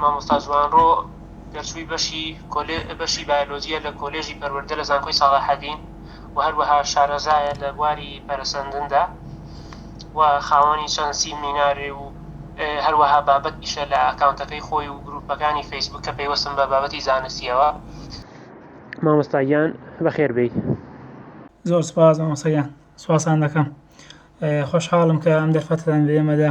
مامۆستا جوانڕۆ دەرچووی بەشی بەشی بایۆلۆجییە لە کۆلێژی پەروەردە لە زانکۆی ساڵاحەدین و هەروەها شارەزایە لە بواری پەرەسەندندا و خاوەنی چەند سیمینارێ و هەروەها بابەتیشە لە ئەکاونتەکەی خۆی و گروپەکانی فەیسبوک کە پەیوەستن بە بابەتی زانستیەوە مامۆستا گیان بەخێر بێی. زۆر سوپاس مامۆستا گیان سوپاستان دەکەم خۆشحاڵم کە ئەم دەرفەتەتان بە ئێمەدا.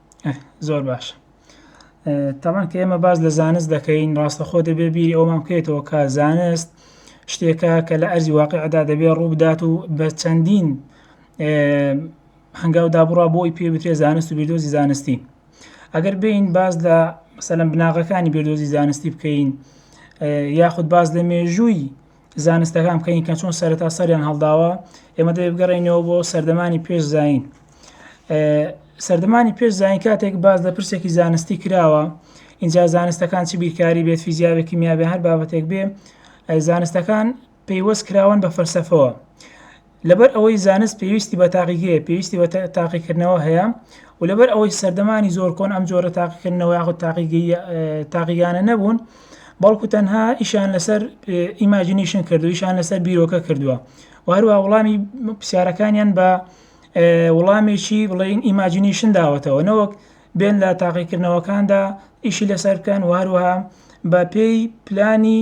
زۆر باشە تاوان کە ئێمە باز لە زانست دەکەین ڕاستە خۆ دەبێ بیری ئەومان بکەیتەوە کە زانست شتێکە کە لە ئەرزی واقعدا دەبێ ڕووبدات و بە چەندین هەنگاو دابڕا بۆی پێ بترێ زانست و بیردۆزی زانستی ئەگەر بین باز لە مەسەلەن بناغەکانی بیردۆزی زانستی بکەین یاخود باز لە مێژووی زانستەکان بکەین کە چۆن سەرەتا سەریان هەڵداوە ئێمە دەێ بگەڕێنەوە بۆ سەردەمانی پێش زین سەردەمانی پێش زین کاتێک باز لە پرسێکی زانستی کراوە اینجا زانستەکان چ بیرکاری بێت فیزیاوێکی میابێ هەر بابەتێک بێ زانستەکان پەیوەست کراون بە فەرسەفەوە لەبەر ئەوەی زانست پێویستی بە تاقیگەیە پێویستی بە تاقیکردنەوە هەیە و لەبەر ئەوەی سەردەمانی زۆر کۆن ئەم جۆرە تاقیکردنەوە یاخود تاقیگانە نەبوون بەڵکو تەنها ئیشان لەسەر ئیماجینیشن کردویشان لەسەر بیرۆکە کردووە و هەروە وڵامی پرسیارەکانیان بە وڵامێکی بڵین ئیماجینیشن داوەتەوە نەوەک بێن لە تاقیکردنەوەکاندا ئیشی لەسەر بکەن و هەروەها بە پێی پلانی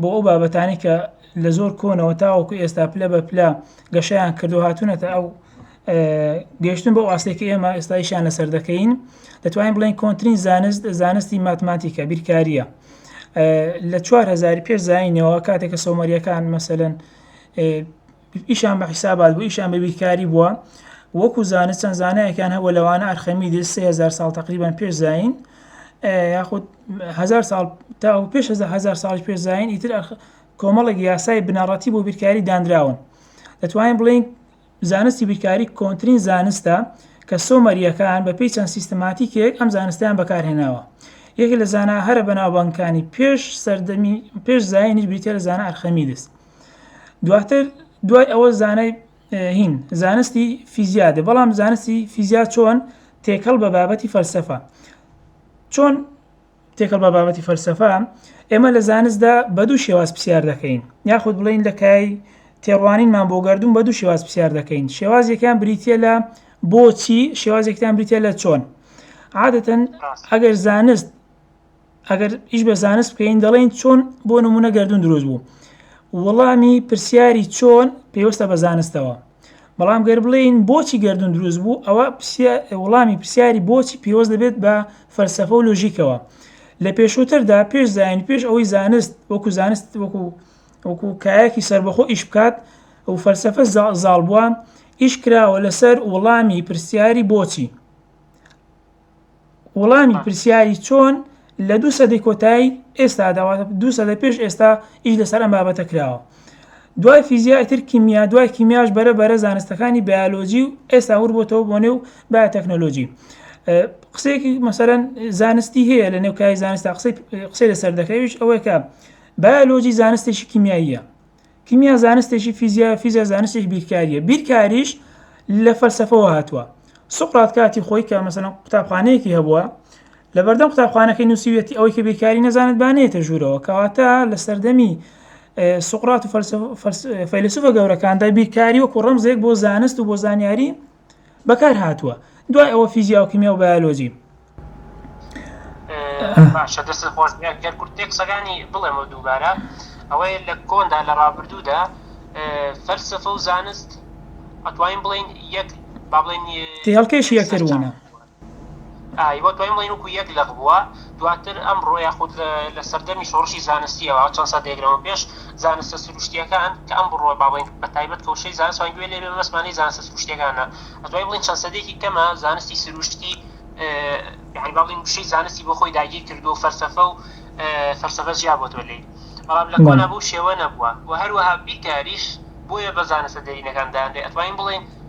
بۆ ئەو بابەتانەی کە لە زۆر کۆنەوە تاوەکو ئێستا پلە بە پلە گەشیان کردو هاتوونەتە ئەو گەشتن بۆ ئاستێکی ئێمە ئێستایشان لەسەر دەکەین دەتوانین بڵێن کۆنتترین زانست زانستی ماتماتیکە بیرکاریە لە 4هزار پێش زینەوە کاتێکە سۆمەریەکان مەسەن ئیشان بە حیسابات بوو ئیشان بە بیرکاری بووە وەکو زانست چەند زانایەکان هەبوو لەوانە ئەرخەمیدس 3000 ساڵ تقریبان پێش زین یاخود هزار ساڵ تا و پێش هزار ساڵی پێش زین ئیتر کۆمەڵێک یاسای بنەڕەتی بۆ بیرکاری دانراون دەتوانین بڵین زانستی بیرکاری کۆنتترین زانستە کە سۆمەریەکان بە پێی چەند سیستماتیکێک ئەم زانستیان بەکارهێناوە یەکێک لە زانە هەرە بەناوبانکانی پێش سەردەمی پێش زایانی بریتە لە زانە ئەرخەمیدس دواتر دوای ئەوە زانای هین زانستی فیزیا دێ بەڵام زانستی فیزیا چۆن تێکەڵ بە بابەتی فەلسەفە چۆن تێکەڵ بە بابەتی فەلسەفە ئێمە لە زانستدا بە دوو شێواز پرسیار دەکەین یاخود بڵین لە کای تێڕوانینمان بۆ گردون بە دوو شێواز پرسیار دەکەین شێوازێکیان بریتە لە بۆچی شێوازێکتان بریتە لە چۆن عادەتەن ئەگەر زانست ئەگەر ئیش بە زانست بکەین دەڵێن چۆن بۆ نمونە گردون دروست بوو وەڵامی پرسیاری چۆن پێوەستە بە زانستەوە بەڵام گەر بڵێین بۆچی گردون دروست بوو ئەوە وەڵامی پرسیاری بۆچی پێوەست دەبێت بە فەلسفە و لۆژیکەوە لە پێشووتردا پێش زین پێش ئەوەی زانست وەکو زانست وەکو وەکو کایەکی سربەخۆ ئیش بکات و فەلسفە زاڵ بووە ئیش کراوە لەسەر وەڵامی پرسیاری بۆچی وڵامی پرسیاری چۆن لە دوو سەدەی کۆتایی ئێستادا، واتە دوو سەدە پێش ئێستا، ئیش لەسەر ئەم بابەتە کراوە. دوای فیزیا ئیتر کیمیا، دوای کیمیاش بەرە بەرە زانستەکانی بایۆلۆجی و ئێستا وربۆتەوە بۆ نێو بایۆتەکنۆلۆجی. قسەیەکی مەسەلەن زانستی هەیە لە نێو کای زانستا قسەی لەسەر دەکرێت ئەویش ئەوەیە کە بایۆلۆجی زانستێکی کیمیاییە. کیمیا زانستێکی فیزیایە، فیزیا زانستێکی بیرکارییە، بیرکاریش لە فەلسەفەوە هاتووە. سوقرات کاتی خۆی کە مەسەن قوتابخانەیەکی هەبووە لە بەردەم قوتابخانەکەی نووسیویەتی ئەوەی کە بیرکاری نەزانێت بانێتە ژوورەوە کەواتە لە سەردەمی سوقرات و فەلسەفە فەیلسوفە گەورەکاندا بیرکاری وەکو ڕەمزێک بۆ زانست و بۆ زانیاری بەکار هاتووە دوای ئەوە فیزیا و کیمیا و بایۆلۆجی باشە دەست خۆش گەر کورت پێ قسەکانی بڵێمەوە دووبارە ئەوەیە لە کۆندا لە ڕابردوودا فەلسفە و زانست ئەتوانین بڵین یەک با بڵین هەڵکێشی یەکتر بوونە ئای وە دوای مڵین وکو یەک لەق بووە دواتر ئەمڕۆ یاخود لە سەردەمی شۆڕشی زانستیەوە چەند سەدەیەک لەمەو پێش زانستە سروشتیەکان کە ئەم بڕۆ با بڵێین بە تایبەت کە وشەی زانست وان گوێ لێ بێ مەست مانەی زانستە سروشتیەکانە دوای بڵێین چەند سەدەیەکی کەمە زانستی سروشتی یانی با بڵێین وشەی زانستی بۆ خۆی داگیر کردووە فەلسەفە و فەلسەفە جیا بۆتەوە لێی بەڵام لە کۆنا بەو شێوە نەبووە وە هەروەها بیرکاریش بۆیە بە زانستە دێرینەکان دانرێ ئەتوانین بڵێین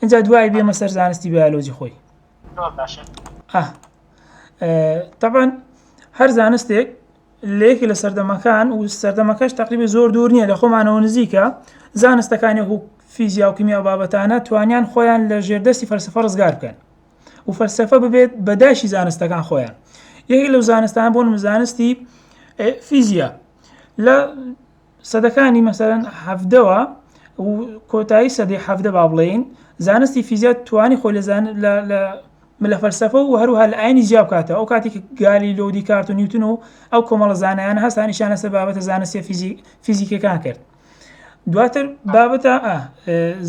ئینجا دوای بێمە سەر زانستی بایۆلۆجی خۆی تەبان هەر زانستێک لەیەکی لە سەردەمەکان و سەردەمەکەش تقریبی زۆر دوور نییە لە خۆمانەوە نزیکە زانستەکانی و فیزیا و کیمیا بابەتانە توانیان خۆیان لە ژێردەستی فەرسفە ڕزگار بکەن و فەرسەفە ببێت بەداشی زانستەکان خۆیان یەکی لەو زانستان بۆ زانستی فیزیا لە سەدەکانی مەسەلەن حەڤدەوە و کۆتایی سەدەی حەڤدە با بڵێین زانستی فیزیا توانی خۆی لە زان لە لە لە فەلسەفە و هەروها لە ئاینی جیا بکاتەوە ئەو کاتی کە گالی لۆ دیکارت و نیوتن و ئەو کۆمەڵە زانایانە هەستانیشان لەسەر بابەتە زانستیە فیزی فیزیکەکان کرد دواتر بابەتە ئا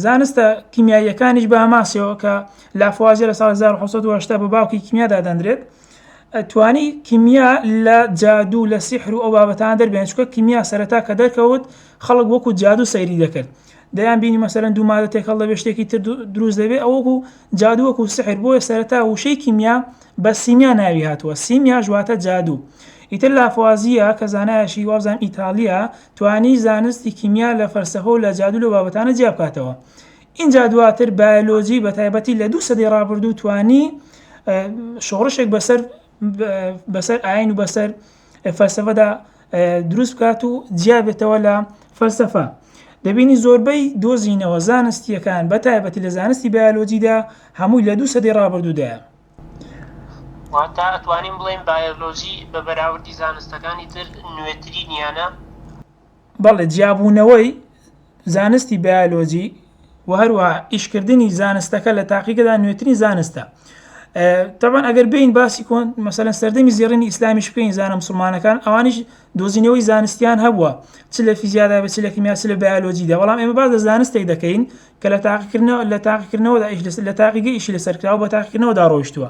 زانستە کیمیاییەکانیش بە ئەماسەوە کە لافوازیە لە ساڵ 1970 بە باوکی کیمیا دادەندرێت توانی کیمیا لە جادوو لە سیحر و ئەو بابەتانە دەربێنێت چونکە کیمیا سەرەتا کە دەرکەوت خەڵک وەکو جادوو سەیری دەکرد دەیان بینی مەسەرەن دوو مادە تێکەڵ دەبێت شتێکی تر دروست دەبێت ئەو وەکو جادوو وەکو سحر بۆیە سەرەتا وشەی کیمیا بە سیمیا ناوی هاتووە سیمیا ژواتە جادوو ئیتر لافوازیە کە زانایەشی وابزان ئیتالیا توانی زانستی کیمیا لە فەلسەفە و لە جادوو لە بابەتانە جیا بکاتەوە ئینجا دواتر بایۆلۆجی بە تایبەتی لە دوو سەدەی ڕابردوو توانی شۆڕشێک بەسەر بەسەر ئاین و بەسەر فەلسفەدا دروست بکات و جیابێتەوە لە فەلسفە دەبینی زۆربەی دۆزینەوە زانستیەکان بە تایبەتی لە زانستی بایۆلۆجیدا هەمووی لە دوو سەدەی ڕابردوودایە واتە ئەتوانین بڵێن بایۆلۆجی بە بەراوردی زانستەکانی تر نوێترینیانە بەڵێ، جیابوونەوەی زانستی بایۆلۆجی و هەروەها ئیشکردنی زانستەکە لە تاقیگەدا نوێترین زانستە تەبان ئەگەر بین باسی کۆن مەسەن سەردەمی زیێڕنی ئیسلامیش بکەین زانە مسلمانەکان ئەوانیش دۆزینەوەی زانستیان هەبووە چ لە فیزیادا بە چ لە کیمیاس لە بایۆلۆجیدا بەڵام ئێمە باز لە زانستێک دەکەین کە لە تاقیکردنەوە لە تاقیکردنەوەدا ئیش لە تاقیگە ئیشی لەسەر کراوە بە تاقیکردنەوەدا ڕۆشتووە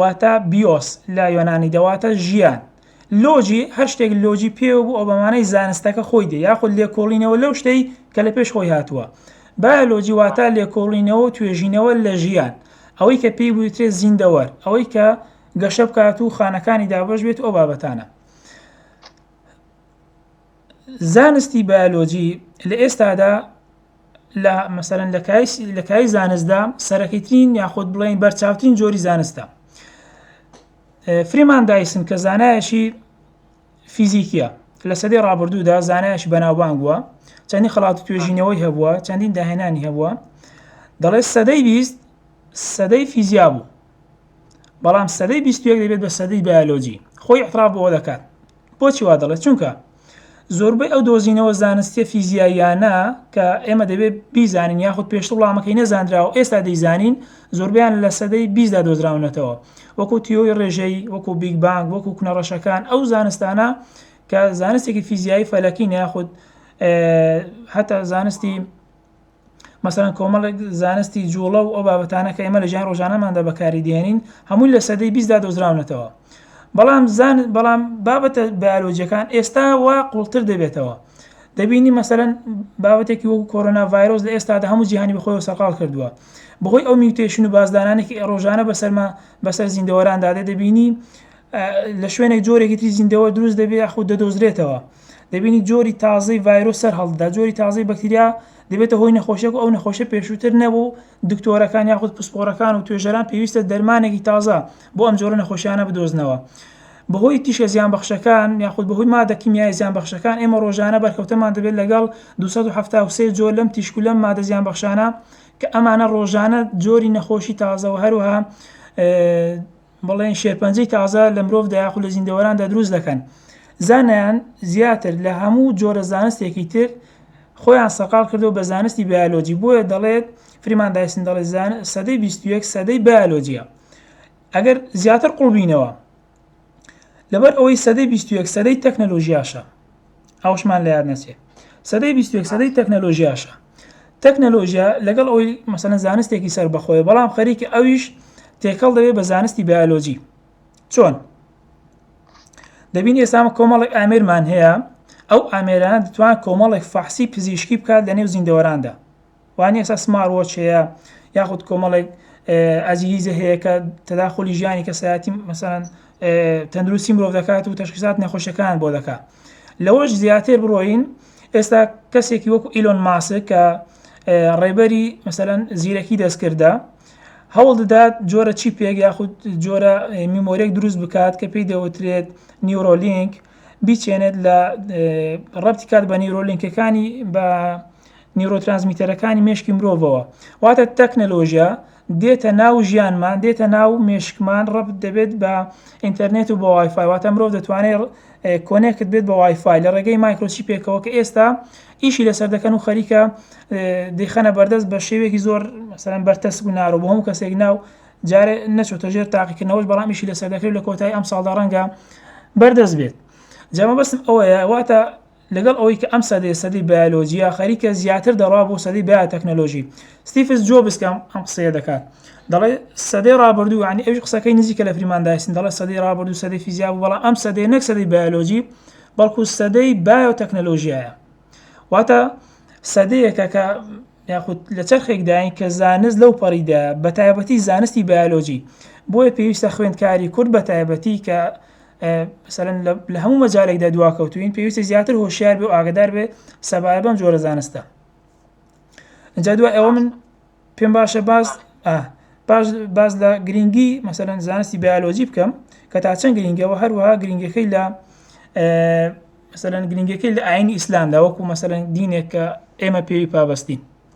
واتا بیۆس لە یۆنانی دەواتە ژیان. لۆجی هەر شتێک لۆجی پێوە بوو ئەو بەمانای زانستەکە خۆی دێ یاخود لێکۆڵینەوە لەو شتەی کە لە پێش خۆی هاتووە. بایۆلۆجی واتا لێکۆڵینەوە و توێژینەوە لە ژیان. ئەوەی کە پێی بوترێ زیندەوەر ئەوەی کە گەشە بکات و خانەکانی دابەش بێت و ئەو بابەتانە. زانستی بایۆلۆجی لە ئێستادا لە مەسەرەن لە کای زانستدا سەرەکیترین یاخود بڵێن بەرچاوترین جۆری زانستە فریمان دایسن کە زانایەشی فیزیکیە لە سەدەی ڕابردوودا زانایش بەناوبانگ بووە چەندی خڵاتی توێژینەوەی هەبووە چەندین داهێنانی هەبووە دەڵێ سەدەی بیست سەدەی فیزیا بوو بەڵام سەدەی بیستێک دەبێت بە سەدەی بایۆلۆجی خۆی احترا بۆ دەکات بۆچی وا دەڵێت؟ چونکە زۆربەی ئەو دۆزینەوە زانستیە فیزیاییانە کە ئێمە دەبێت بیزانین یاخود پێشتر وڵامەکەی نەزانراوە ئێستا دەیزانین زۆربیان لە سەدەی بیزدا دۆزراونەتەوە وەکو تیۆی ڕێژەی وەکو بیگ بانگ وەکو کنەڕەشەکان ئەو زانستانە کە زانستێکی فیزیایی فەلەکین یاخود هەتا زانستی مەسەلەن کۆمەڵێک زانستی جوڵە و ئەو بابەتانە کە ئێمە لە ژیانی ڕۆژانەماندا بەکاری دێنین هەمووی لە سەدەی بیستدا دۆزراونەتەوە بەڵام زانست بەڵام بابەتە بایۆلۆجیەکان ئێستا وا قوڵتر دەبێتەوە دەبینی مەسەلەن بابەتێکی وەکو کۆرۆنا ڤایرۆس لە ئێستادا هەموو جیهانی بەخۆی سەرقال کردووە بەهۆی ئەو میوتێشن و بازدانانێکی ڕۆژانە بەسەرما بەسەر زیندەوەراندا دەدەبینی لە شوێنێک جۆرێکی تری زیندەوە دروست دەبێت یاخود دەدۆزرێتەوە دەبینی جۆری تازەی ڤایرۆس سەر هەڵدەدا، جۆری تازەی بەکتریا دەبێتە هۆی نەخۆشیەک و ئەو نەخۆشە پێشووتر نەبوو و دکتۆرەکان یاخود پسپۆڕەکان و توێژەران پێویستە دەرمانێکی تازە بۆ ئەم جۆرە نەخۆشیانە بدۆزنەوە بەهۆی تیشە زیان بەخشەکان یاخود بەهۆی مادە کیمیای زیان بەخشەکان ئێمە ڕۆژانە بەرکەوتەمان دەبێت لەگەڵ 273 جۆر لەم تیشک و لەم مادە زیان بەخشانە کە ئەمانە ڕۆژانە جۆری نەخۆشی تازەوە هەروها بڵێن شێرپەنجەی تازە لە مرۆڤدا یاخود لە زیندەوەراندا دروست دەکەن. زانایان زیاتر لە هەموو جۆرە زانستێکی تر خۆیان سەرقاڵ کردووە بە زانستی بایۆلۆجی، بۆیە دەڵێت فریمان دایسن دەڵێت سەدەی بیست و یەک سەدەی بایۆلۆجییە. ئەگەر زیاتر قوڵ بینەوە، لەبەر ئەوەی سەدەی بیست و یەک سەدەی تەکنەلۆژیاشە. ئەوشمان لە یاد نەچێ سەدەی بیستێک سەدەی تەکنەلۆژیاشە تەکنەلۆژیا لەگەڵ ئەوی مەسەنە زانستێکی سەر بەخۆی بەڵام خەریکە ئەویش تێکەڵ دەوێت بە زانستی بیالۆجی چۆن دەبین ئێسامە کۆمەڵێک ئامێرمان هەیە ئەو ئامێرانە دەتوان کۆمەڵێک فەحسی پزیشکی بکات لە نێو زیندەوەراندا وانیە ئێستا سمارت وۆچ هەیە یاخود کۆمەڵێک ئەزیزە هەیە کە تەداخۆلی ژیانی کەسایەتی مەسەن تەندروستی مرۆڤ دەکات و تەشخیزات نەخۆشەکان بۆ دەکات لەوەش زیاتر بڕۆین ئێستا کەسێکی وەکو ئیلۆن ماسک کە ڕێبەری مەسەەن زیرەکی دەستکردە هەوڵ دەدات جۆرە چی پێک یاخود جۆرە میمۆرێک دروست بکات کە پێی دەوترێت نیورۆلینک بیچێنێت لە ڕەتی کات بە نیورۆلینکەکانی بە نیورۆترانسمیتەرەکانی مێشکی مرۆڤەوە واتە تەکنەلۆژیا دێتە ناو ژیانمان دێتە ناو مێشکمان ڕەبت دەبێت بە ئینتەرنێت و بە وایفای واتە مرۆڤ دەتوانێت کۆنێکت بێت بە وایفای لە ڕێگەی مایکرۆچی پێکەوە کە ئێستا ئیشی لەسەر دەکەن و خەریکە دەیخەنە بەردەست بە شێوێکی زۆر مەسەرەن بەرتەس و نارۆ بۆ هەموو کەسێک ناو جارێ نەچۆتە ژێر تاقیکردنەوەش بەڵام ئیشی لەسەر دەکرێت لە کۆتای ئەم ساڵدا ڕەنگە بەردەست بێت جامە بەسم ئەوەیە واتە لەگەڵ ئەوەی کە ئەم سەدەیە سەدەی بایۆلۆجییە، خەریکە زیاتر دەڕوا بۆ سەدەی بایۆتەکنۆلۆژی. ستیفز جۆبز کە ئەم قسەیە دەکات، دەڵێ سەدەی ڕابردوو، یانی ئەویش قسەکەی نزیکە لە فریمان دایسن، دەڵێ سەدەی ڕابردوو سەدەی فیزیا بوو، بەڵام ئەم سەدەیە نەک سەدەی بایۆلۆجی، بەڵکو سەدەی بایۆتەکنۆلۆژیایە. واتە سەدەیەکە کە یاخود لە چەرخێکداین کە زانست لەو پەڕیدایە، بەتایبەتی زانستی بایۆلۆجی. بۆیە پێویستە خوێندکاری کورد بەتایبەتی کە مەسەلەن لە هەموو مەجالێکدا دواکەوتوین پێویستە زیاتر هۆشیار بێ و ئاگدار بێ سەبارە بەم جۆرە زانستە ئەجا دوای ئەوە من پێم باشە باز باش باز لە گرنگی مەسەەن زانستی بیالۆجی بکەم کە تا چەند گرنگەوە هەروەها گرنگەکەی لە مەسەەن گرنگەکەی لە ئاینی ئیسلامدا وەکو مەسەەن دینێک کە ئێمە پێوی پابستین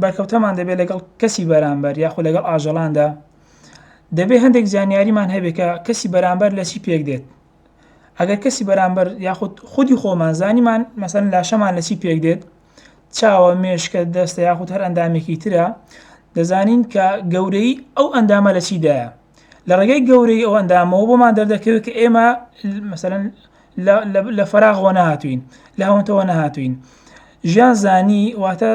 بەرکەوتەمان دەبێت لەگەڵ کەسی بەرامبەر یاخۆ لەگەڵ ئاژەڵاندا دەبێت هەندێک زانیاریمان هەبێت کە کەسی بەرامبەر لە چی پێک دێت ئەگەر کەسی بەرامبەر یاخود خودی خۆمان زانیمان مەسەن لاشەمان لە چی پێک دێت چاوە مێشکە دەستە یاخود هەر ئەندامێکی ترە دەزانین کە گەورەی ئەو ئەندامە لە چیدایە لە ڕێگەی گەورەی ئەو ئەندامەوە بۆمان دەردەکەوێت کە ئێمە مەسەن لە فەراغ وە نەهاتووین لە هەونتەوە نەهاتووین ژیان زانی واتە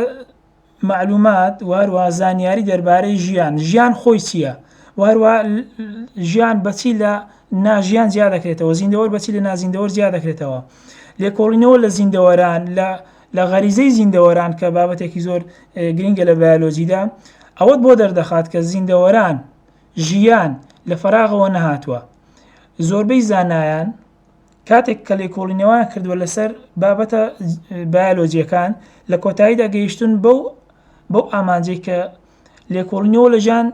معلومات واروا زانیاری دەربارەی ژیان ژیان خۆی چییە واروا ژیان بەچی لە ناژیان جیا دەکرێتەوە زیندەوەر بەچی لە نازیندەوەر جیا دەکرێتەوە لێکۆڵینەوە لە زیندەوەران لە لە غەریزەی زیندەوەران کە بابەتێکی زۆر گرنگە لە بایۆلۆجیدا ئەوەت بۆ دەردەخات کە زیندەوەران ژیان لە فەراغەوە نەهاتووە. زۆربەی زانایان کاتێک کە لێکۆڵینەوەیان کردووە لەسەر بابەتە بایۆلۆجییەکان، لە کۆتاییدا گەیشتوون بەو بەو ئامانجەی کە لێکۆڵینەوە لە ژیان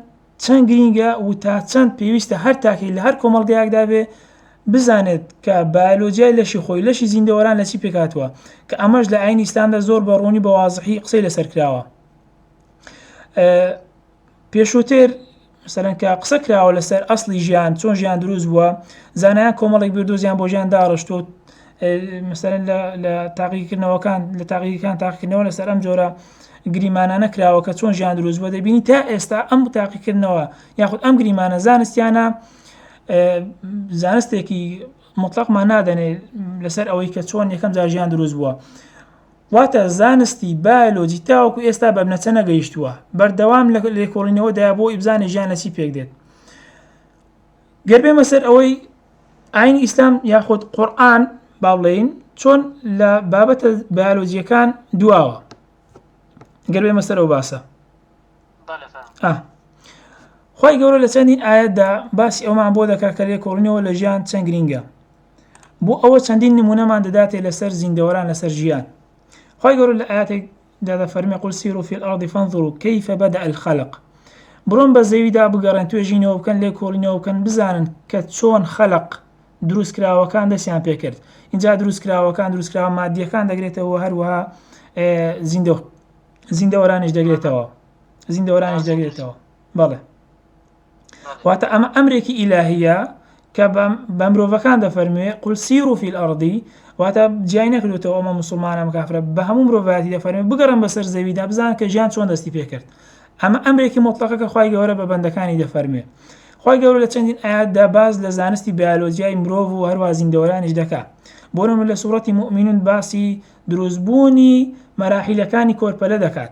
چەند گرینگە و تا چەند پێویستە هەر تاکێک لە هەر کۆمەڵگەیەکدا بێ بزانێت کە بایۆلۆجیای لەشی خۆی، لەشی زیندەوەران لە چی پێکهاتووە، کە ئەمەش لە ئایینی ئیسلامدا زۆر بە ڕوونی و بە وازحی قسەی لەسەر کراوە. پێشووتر مەسەلەن کە قسە کراوە لەسەر ئەسڵی ژیان چۆن ژیان دروست بووە زانایان کۆمەڵێک بیردۆزیان بۆ ژیان داڕشتوە مەسەرەن لە تاقیکردنەوەکان لە تاقیەکان تاقیکردنەوە لەسەر ئەم جۆرە گریمانانە کراوە کە چۆن ژیان دروست بۆ دەبینی تا ئێستا ئەم تاقیکردنەوە یاخود ئەم گریمانە زانستیانە زانستێکی مطلقمان نادەنێ لەسەر ئەوەی کە چۆن یەکەم جاژیان دروست بووە واتە زانستی بایۆلۆجی تاوەکو ئێستا بە بنەچە نەگەیشتووە، بەردەوام لە لێکۆڵینەوەدایە بۆ ئەوەی بزانێت ژیان لە چی پێک دێت. گەر بێمە سەر ئەوەی ئاینی ئیسلام یاخود قورئان با بڵێین چۆن لە بابەتە بایۆلۆجیەکان دواوە گەر بێمە سەر ئەو باسە خی گەورە لە چەندین ئاەتدا باسی ئەومان بۆ دەکات کە لێکۆڵینەوە لە ژیان چەند گرینگە بۆ ئەوە چەندین نمونەمان دەداتێ لەسەر زیندەوەران لەسەر ژیان خی گەور لە ئاەتێک دادەفەرمی قول سیرو فی الارض فانظروا کیف بدا الخلق بڕۆن بە زەویدا بگەڕێن توێژینەوە بکەن لێ کۆڵینەوە بکەن بزانن کە چۆن خەلق دروست کراوەکان دەستیان پێ کرد اینجا دروست کراوەکان دروست کراوە مادیەکان دەگرێتەوە هەروەها زیندە زیندەوەرانیش دەگرێتەوە زیندەوەرانیش دەگرێتەوە بەڵێ واتە ئەمە ئەمرێکی ئیلاهیە کە بە مرۆڤەکان دەفەرموێ قل سیروا فی الارض واتە جیای نەکردوێتەوە ئەمە مسلمانە ئەم کافرە بە هەموو مرۆڤایەتی دەفەرموێ بگەڕێن بەسەر زەویدا بزان کە ژیان چۆن دەستی پێکرد ئەمە ئەمرێکی مطلقە کە خوای گەورە بە بەندەکانی دەفەرموێ خوای گەورە لە چەندین ئایاتدا باس لە زانستی بیالۆجیای مرۆڤ و هەروە زیندەوەرانیش دەکا بۆ نمونە لە سوڕەتی موئمینون باسی دروستبوونی مەراحیلەکانی کۆرپەلە دەکات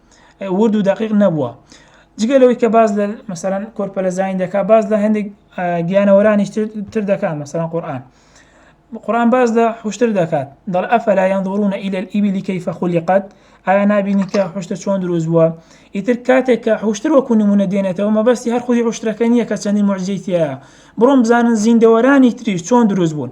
ورد و دەقیق نەبووە جگە لەوەی کە باز لە مەسەرەن کۆرپەلە زین دەکات باز لە هەندێک گیانەوەرانی تر دەکات مەسەرەن قورآان قڕان باز لە حشتر دەکات دەڵ ئەفەلا یان دورونە ئیل ئیبیلی کەیفە خولیقات ئایا نبینی کە حشتە چۆن دروست بووە ئیتر کاتێک کە حشتر وەکو نمونە دێنێتەوە مەبەستی هەر خودی حشتەکە نییە کە چەندی مەرجیتە بڕۆم بزانن زیندەوەرانی تریش چۆن دروست بوون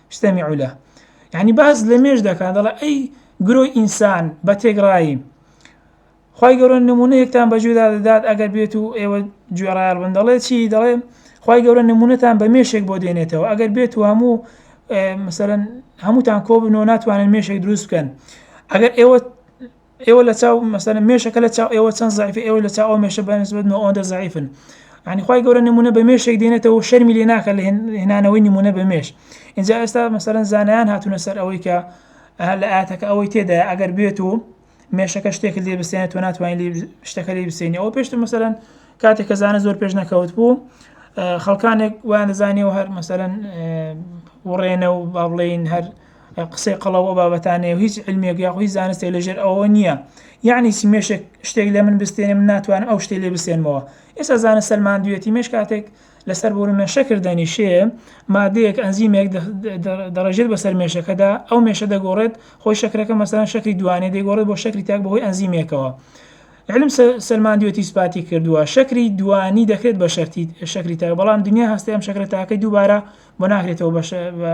استمع له یعنی باس لە مێژ دەکات دەڵێ ئەی گرۆی ئینسان بە تێگڕایی خی گەورە نمونەیەکتان بەجێدا دەدات ئەگەر بێت و ئێوە گوێڕایال بن دەڵێ چی دەڵێ خی گەورە نمونەتان بە مێشێک بۆ دێنێتەوە ئەگەر بێت و هەموو مثلەن هەمووتان کۆ بنەوە ناتوانن مێشێک دروست بکەن ئەگەر ئێوە ئێوە لە چاو مەسەلەن مێشەکە لە چاو ئێوە چەند زەعیفە ئێوەش لە چاو ئەو مێشە بە نسبەت نۆ ئەوەندە زەعیفن یعنی خوای گەورە نمونە بە مێشێک دێنێتەوە شەرمی لێ ناکات لە هێنانەوەی نمونە بە مێش ئینجا ئێستا مەسەلەن زانایان هاتوونە سەر ئەوەی کە لە ئاتەکە ئەوەی تێدایە ئەگەر بێت و مێشەکە شتێکت لێ بسێنێت تۆ ناتوانین لێ شتەکە لێ بسێنی ئەوە پێشتر مەسەلەن کاتێک کە زانە زۆر پێش نەکەوت بوو خەڵکانێک ویان دەزانانی و هەر مەسەلەن وڕێنە و با بڵێین هەر قسەی قەڵەو ئەو بابەتانەیە و هیچ علمێک یاخۆ هیچ زانستێک لە ژێر ئەوەوە نییە یانی چی مێشێک شتێک لە من بستێنێ من ناتوانم ئەو شتێ لێ بسێنمەوە ئێستا زانست سەلماندویەتی مێش کاتێک لەسەر بۆرە مێشەکر دەنیشێ مادەیەک ئەنزیمێک دەڕێژێت بەسەر مێشەکەدا ئەو مێشە دەگۆڕێت خۆی شەکرەکە مەسەران شەکری دوانێ دەگۆڕێت بۆ شەکری تاک بەهۆی ئەنزیمێکەوە علم سەلماندوێتی سوپاتی کردووە شەکری دوانی دەکرێت بە شەرتی شەکری تاک بەڵام دنیا هەستی ئەم شەکرە تاکەی دووبارە بۆ ناکرێتەوە بە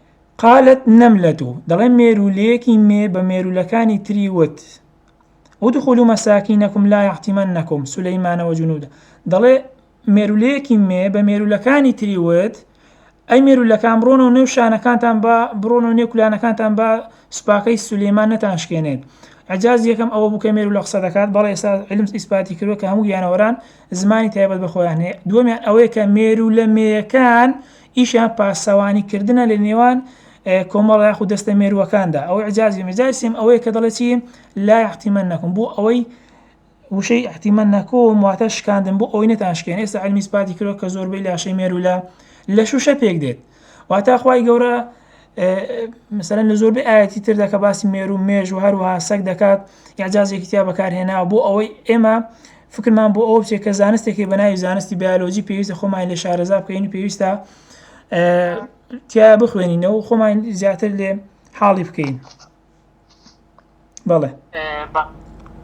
قالت نملە دەڵێ مێروولەیەکی مێ بە مێروولەکانی تری وت ادخلوا مساکینکم لا یحطمنکم سلیمان و جنوده دەڵێ مێروولەیەکی مێ بە مێروولەکانی تری وت ئەی مێروولەکان بڕۆنە و نێو شانەکانتان بە بڕۆن و نێو کولانەکانتان بە سوپاکەی سولەیمان نەتانشکێنێت عجاز یەکەم ئەوە بوو کە مێرو لە قسە دەکات بەڵێ ئێستا علم ئیسپاتی کردوە کە هەموو گیانەوەران زمانی تایبەت بەخۆیان هەیە دووەمیان ئەوەیە کە مێرو لە مێیەکان ئیشیان پاسەوانی کردنە لە نێوان کۆمەڵە یاخود دەستە مێرووەکاندا ئەوەی عجاز بێ مجای سێم ئەوەیە کە دەڵێ چی لا یحتمنکم بۆ ئەوەی وشەی احتمنکم واتە شکاندن بۆ ئەوەی نەتانشکێن ئێستا علمی سپاتی کرۆ کە زۆربەی لاشەی مێروو لە لە شوشە پێک دێت واتا خوای گەورە مثلەن لە زۆربەی ئاەتی تردا کە باسی مێرو مێژ و هەروەها سەگ دەکات یاجازێکی تیا بەکارهێناوە بۆ ئەوەی ئێمە فکرمان بۆ ئەو بچێت کە زانستێکی بەناوی زانستی بیالۆجی پێویستە خۆمان لە شارەزا بکەین پێویستە تیا بخوێنینەوە خۆمان زیاتر لێ حاڵی بکەین. بەڵێ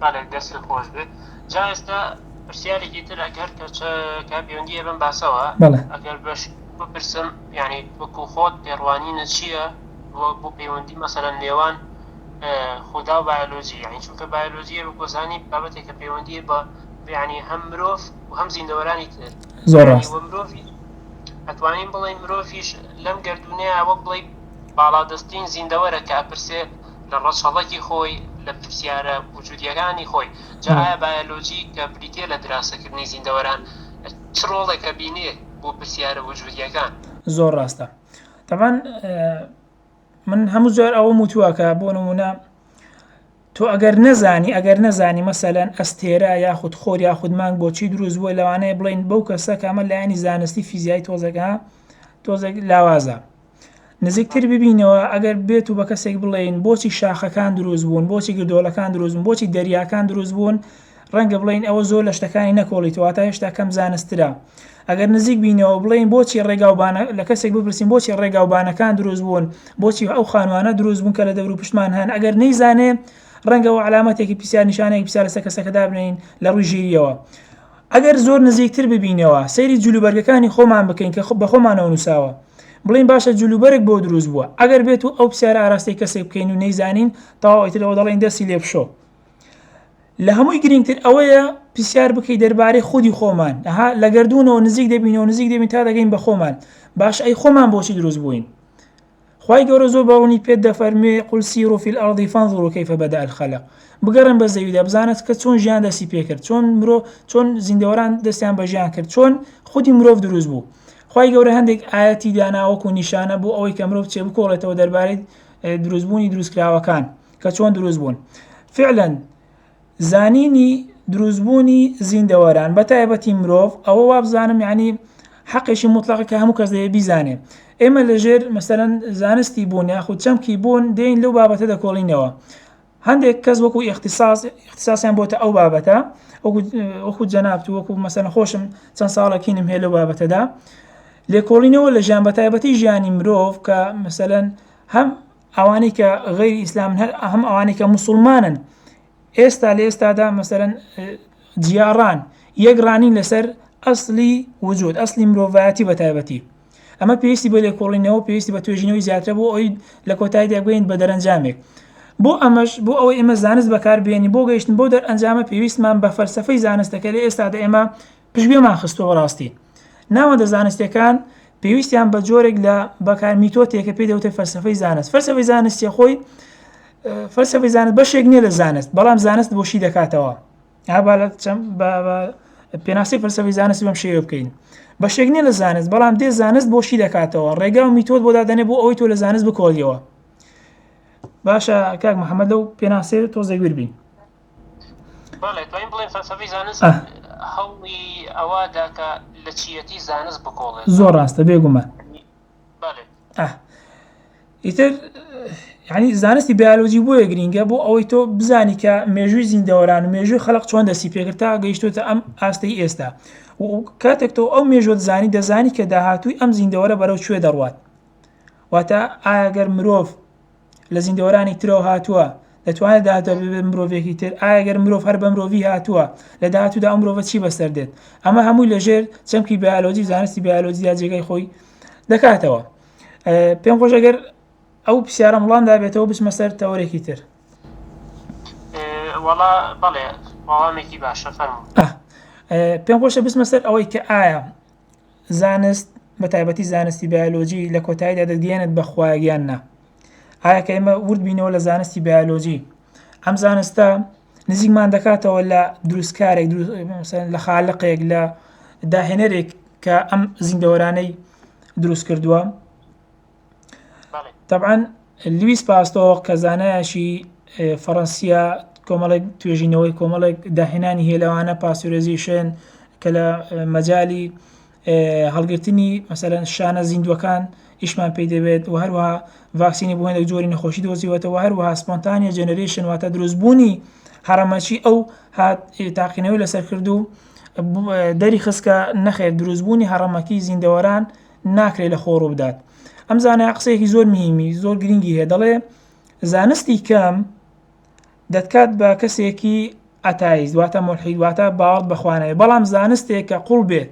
بەڵێ دەستی خۆش بێت جا ئێستا پرسیارێکی تر ئەگەر کەچە کا پەیوەندیە بم باسەوە ئەگەر بەش بپرسم یعنی وەکو خۆت پێڕوانینە چییە بۆ پەیوەندی مەسەرە نێوان خدا و بایۆلۆژی یعنی چونکە بایۆلۆژیە بەگۆزانی بابەتێکە پەیوەندیە بە بیانی هەم مرۆڤ و هەم زیندەوەرانی تر زۆر مرۆڤی ئەتوانین بڵێ مرۆڤش لەم گردونەیە وەک بڵی باڵادەستترین زیندەوەرە کە ئەپرسێ لە ڕەچەڵەکی خۆی، لە پرسیارە وجودییەکانی خۆی. جا ئایا بایەلۆجی کە بریتییە لە دراسەکردنی زیندەوەران چ ڕۆڵێک ئەبینێ بۆ پرسیارە وجودییەکان؟ زۆر ڕاستە. تەبعەن من هەموو جار ئەوەم وتووە کە بۆ نموونە تۆ ئەگەر نەزانی ئەگەر نەزانی مەسەلەن ئەستێرە یاخود خۆر یاخود مانگ بۆچی دروست بووە لەوانەیە بڵین بەو کەسە کامە لایەنی زانستی فیزیای تۆزەکە تۆزێک لاوازە نزیکتر ببینەوە ئەگەر بێت و بە کەسێک بڵێین بۆچی شاخەکان دروست بوون بۆچی گردۆڵەکان دروست بوون بۆچی دەریاکان دروست بوون ڕەنگە بڵین ئەوە زۆر لە شتەکانی نەکۆڵیتەوە تا هێشتا کەم زانسترا ئەگەر نزیک بینەوە بڵین بۆچی ڕێگاوبانە لە کەسێک بپرسین بۆچی ڕێگاوبانەکان دروست بوون بۆچی ئەو خانوانە دروست بوون کە لە دەور و پشتمان هەن ئەگەر نەیزانێ ڕەنگەوە علامەتێکی پرسیار نیشانەیەک پرسیار لەسەر کەسەکەدا بنین لە ڕووی ژیریەوە ئەگەر زۆر نزیکتر ببینەوە سەیری جلوبەرگەکانی خۆمان بکەین کە بە خۆمانەوە نووساوە بڵێین باشە جلوبەرگ بۆ دروست بووە ئەگەر بێت و ئەو پرسیارە ئاراستەی کەسێک بکەین و نەیزانین تەواو ئیتر ئەوە دەڵێین دەستی لێ بشۆ لە هەمووی گرنگتر ئەوەیە پرسیار بکەی دەربارەی خودی خۆمان ئەها لە گردردونەوە نزیک دەبینەوە نزیک دەبین تا دەگەین بە خۆمان باش ئەی خۆمان بۆچی دروست بووین خوای گەورە زۆر بە ڕوونی پێت دەفەرموێ قل سیرو فی الارض فانظرو کیف بدء الخلق بگەڕێن بە زەویدا بزانە کە چۆن ژیان دەستی پێکرد چۆن مرۆ چۆن زیندەوەران دەستیان بە ژیان کرد چۆن خودی مرۆڤ دروست بوو خوای گەورە هەندێک ئاەتی داناوەکو نیشانە بۆ ئەوەی کە مرۆڤ چێ بکۆڵێتەوە دەربارەی دروستبوونی دروستکراوەکان کە چۆن دروست بوون فعلەن زانینی دروست بوونی زیندەوەران بە تایبەتی مرۆڤ ئەوە وابزانم یعنی حەقێکی موتڵەقە کە هەموو کەس دەبێ بیزانێ ئێمە لەژێر مەسەەن زانستی بوون یاخود چەمکی بوون دێین لەو بابەتە دەکۆڵینەوە هەندێک کەس وەکو ئێختصاص ئێختصاسیان بۆتە ئەو بابەتە وەکو جەنابت وەکو مەسەن خۆشم چەند ساڵەکینم هەیە لەو بابەتەدا لێکۆڵینەوە لە ژیان بە تایبەتی ژیانی مرۆڤ کە مەسەەن هەم ئەوانەی کە غەیری ئیسلامن هەر هەم ئەوانەی کە موسڵمانن ئێستا لە ئێستادا مەسەرەن جیاڕان یەک ڕانین لەسەر ئەسلی وجود ئەسلی مرۆڤایەتی بە تایبەتی ئەمە پێویستی بە لێکۆڵینەوە پێویستی بە توێژینەوەی زیاترە بۆ ئەوی لە کۆتاییدا بگەین بە دەرەنجامێک بۆ ئەمەش بۆ ئەوەی ئێمە زانست بەکاربیێنی بۆ گەیشتن بۆ دەرئەنجامە پێویستمان بە فەلسفەی زانستەکە لە ئێستادا ئێمە پشتگوێمان خستووە بەڕاستی ناوەندە زانستەکان پێویستیان بە جۆرێک لە بەکار میتۆتێکە پێ دەوتێ فەرسەفەی زانست فەرسەفەی زانستیە خۆی فەرسەفەی زانست بەشێک نییە لە زانست بەڵام زانست بۆشی دەکاتەوە پێناسی فەرسەفەی زانست بەم شێوە بکەین بەشێک نییە لە زانست بەڵام دێ زانست بۆشی دەکاتەوە ڕێگا و میتۆت بۆ دادەنێ بۆ ئەوەی تۆ لە زانست بکۆڵیەوە باشە کاک محەممەد لەو پێناسێ تۆزەگویر بین بەڵێ توانین بڵێن فەلسەفەی زانست هەوڵی ئەوە دا کە لە چیەتی زانست بکۆڵێت زۆر ڕاستە بێگومان بەڵێ ئیتر ینی زانستی بیالۆجی بۆیە گرینگە بۆ ئەوەی تۆ بزانی کە مێژووی زیندەوەران و مێژووی خەڵق چۆن دەستی پێگرتا گەیشتوتە ئەم ئاستی ئێستا کاتێک تۆ ئەو مێژوت زانی دەزانی کە داهاتووی ئەم زیندەوەرە بەرەو کوێ دەڕوات واتە ئاگەر مرۆڤ لە زیندەوەرانی ترەوە هاتووە، دەتوانێت داهاتوودا بێت بە مرۆڤێکی تر، ئایا گەر مرۆڤ هەر بە مرۆڤی هاتووە، لە داهاتوودا ئەو مرۆڤە چی بەسەر دێت؟ ئەمە هەمووی لە ژێر چەمکی بایۆلۆجی و زانستی بایۆلۆجیدا جێگای خۆی دەکاتەوە. پێم خۆشە گەر ئەو پرسیارەم وڵام دابێتەوە بچمە سەر تەوەرێکی تر. وەڵا بەڵێ وەڵامێکی باشە فەرموو. پێم خۆشە بچمە سەر ئەوەی کە ئایا زانست بە تایبەتی زانستی بایۆلۆجی لە کۆتایدا دەگەیەنێت بە خوایەک یان نا ئایا کە ئێمە ورد بینەوە لە زانستی بایۆلۆجی ئەم زانستە نزیکمان دەکاتەوە لە دروستکارێک لە خالقێک لە داهێنەرێک کە ئەم زیندەوەرانەی دروست کردووە تەبعەن لویس پاستۆڕ کە زانایەکی فەڕەنسییە کۆمەڵێک توێژینەوەی کۆمەڵێک داهێنانی هەیە لەوانە پاسرێزیشن کە لە مەجای هەڵگرتنی مەسەرەن شانە زیندووەکان ئیشمان پێی دەبێت و هەروها ڤاکسینی بۆێنێک جۆری نەخۆشی دۆزیوەتەوە هەروها سپۆنتانیە جەنەرێشن واتە دروستبوونی هەڕەمەچی ئەو هات تاقینەوەی لەسەر کردو دەری خستکە نەخێر دروستبوونی هەڕەمەکی زیندەوەران ناکرێت لە خۆ ڕووبدات ئەم زانایە قسەیەکی زۆر مهمی زۆر گرنگی هەیە دەڵێ زانستی کەم دەتکات بە کەسێکی ئەتایز دواتە ملحید واتە باوەڕ بەخوانەوەی بەڵام زانستێک کە قوڵ بێت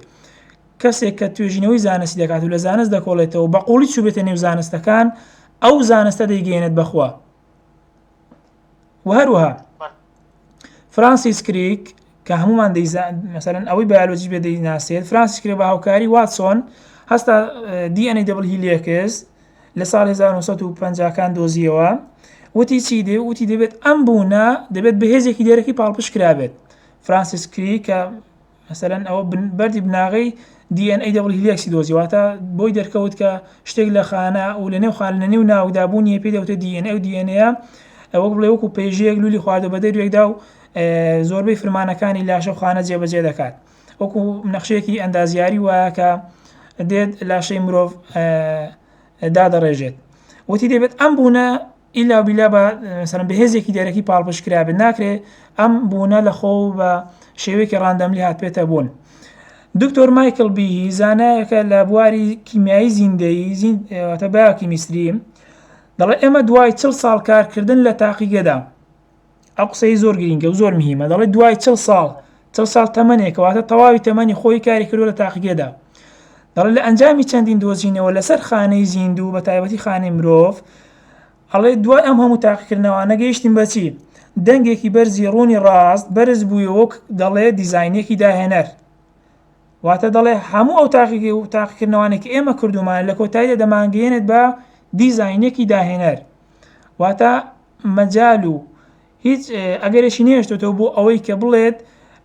کەسێک کە توێژینەوەی زانستی دەکات و لە زانست دەکۆڵێتەوە بە قوڵی چوبێتە نێو زانستەکان ئەو زانستە دەیگەێنێت بەخوا و هەروەها فرانسیس کریک کە هەمومان مەسەرەن ئەوەی بایۆلۆجی بێ دەیناسێت فرانسیس کرێ بە هاوکاری واتسۆن هەستا دیئەنەی دەبڵ هیلێکس لە ساڵ 1950 کان دۆزیەوە وتی چی دێ وتی دەبێت ئەم بوونە دەبێت بەهێزێکی دێرەکی پاڵپشکرابێت فرانسیس کری کە مەسەلەن ئەوە بەردی بناغەی دی ئێن ئەی دەبڵ هیلیەکسی دۆزی واتە بۆی دەرکەوت کە شتێک لە خانە و لە نێو خان لە نێو ناوکدا بوونیە پێ دەوتە دی ئێن ئەو دی ئێن ئەیە ئەوەک بڵێ وەکو پێژەیەک لولی خواردە بە دەروێکدا و زۆربەی فرمانەکانی لاشە و خانە جێبەجێ دەکات وەکو نەخشێکی ئەندازیاری وایە کە دێت لاشەی مرۆڤ دادەڕێژێت وتی دەبێت ئەم بوونە ئیلا و بیلا بە مەسەلەن بە هێزێکی دەرەکی پاڵپشت کرابێت ناکرێ ئەم بوونە لە خۆ و بە شێوەیەکی ڕاندەملی هاتبێتە بوون. دکتۆر مایکل بیهی زانایەکە لە بواری کیمیایی زیندەیی زین ئێ، واتە بایۆکیمیستری دەڵێ ئێمە دوای چڵ ساڵ کارکردن لە تاقیگەدا ئەو قسەی زۆر گرینگە و زۆر مهمە دەڵێت دوای چل ساڵ چل ساڵ تەمەنێکەوەتە تەواوی تەمەنی خۆی کاری کردو لە تاقیگەدا دەڵێ لە ئەنجامی چەندین دۆزینەوە لەسەر خانەی زیندوو بە تایبەتی خانەی مرۆڤ ئەڵێ دوای ئەم هەموو تاقیکردنەوانە گەیشتیم بەچی دەنگێکی بەرزی ڕوونی ڕاست بەرز بوویەوە دەڵێ دیزینێکی داهێنەر واتە دەڵێ هەموو ئەو تاقیگە و تاقیکردنەوانێکی ئێمە کردومان لە کۆتاییدا دەمانگەێنێت بە دیزینێکی داهێنەر واتە مەجال و هیچ ئەگەرێکی نەهێشتۆتەوە بۆ ئەوەی کە بڵێت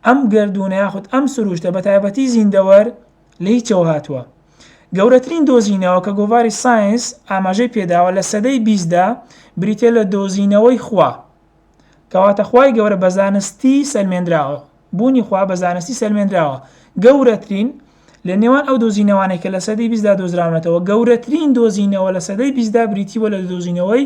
ئەم گەردوونە یاخود ئەم سروشتە بە تایبەتی زیندەوەر لە هیچەوە هاتووە. گەورەترین دۆزینەوە کە گۆڤاری ساینس ئاماژەی پێداوە لە سەدەی بیستدا بریتیە لە دۆزینەوەی خوا. کەواتە خوای گەورە بە زانستی سەلمێنراوە. بوونی خوا بە زانستی سەلمێنراوە. گەورەترین لە نێوان ئەو دۆزینەوانەی کە لە سەدەی بیستدا دۆزراونەتەوە گەورەترین دۆزینەوە لە سەدەی بیستدا بریتی بووە لە دۆزینەوەی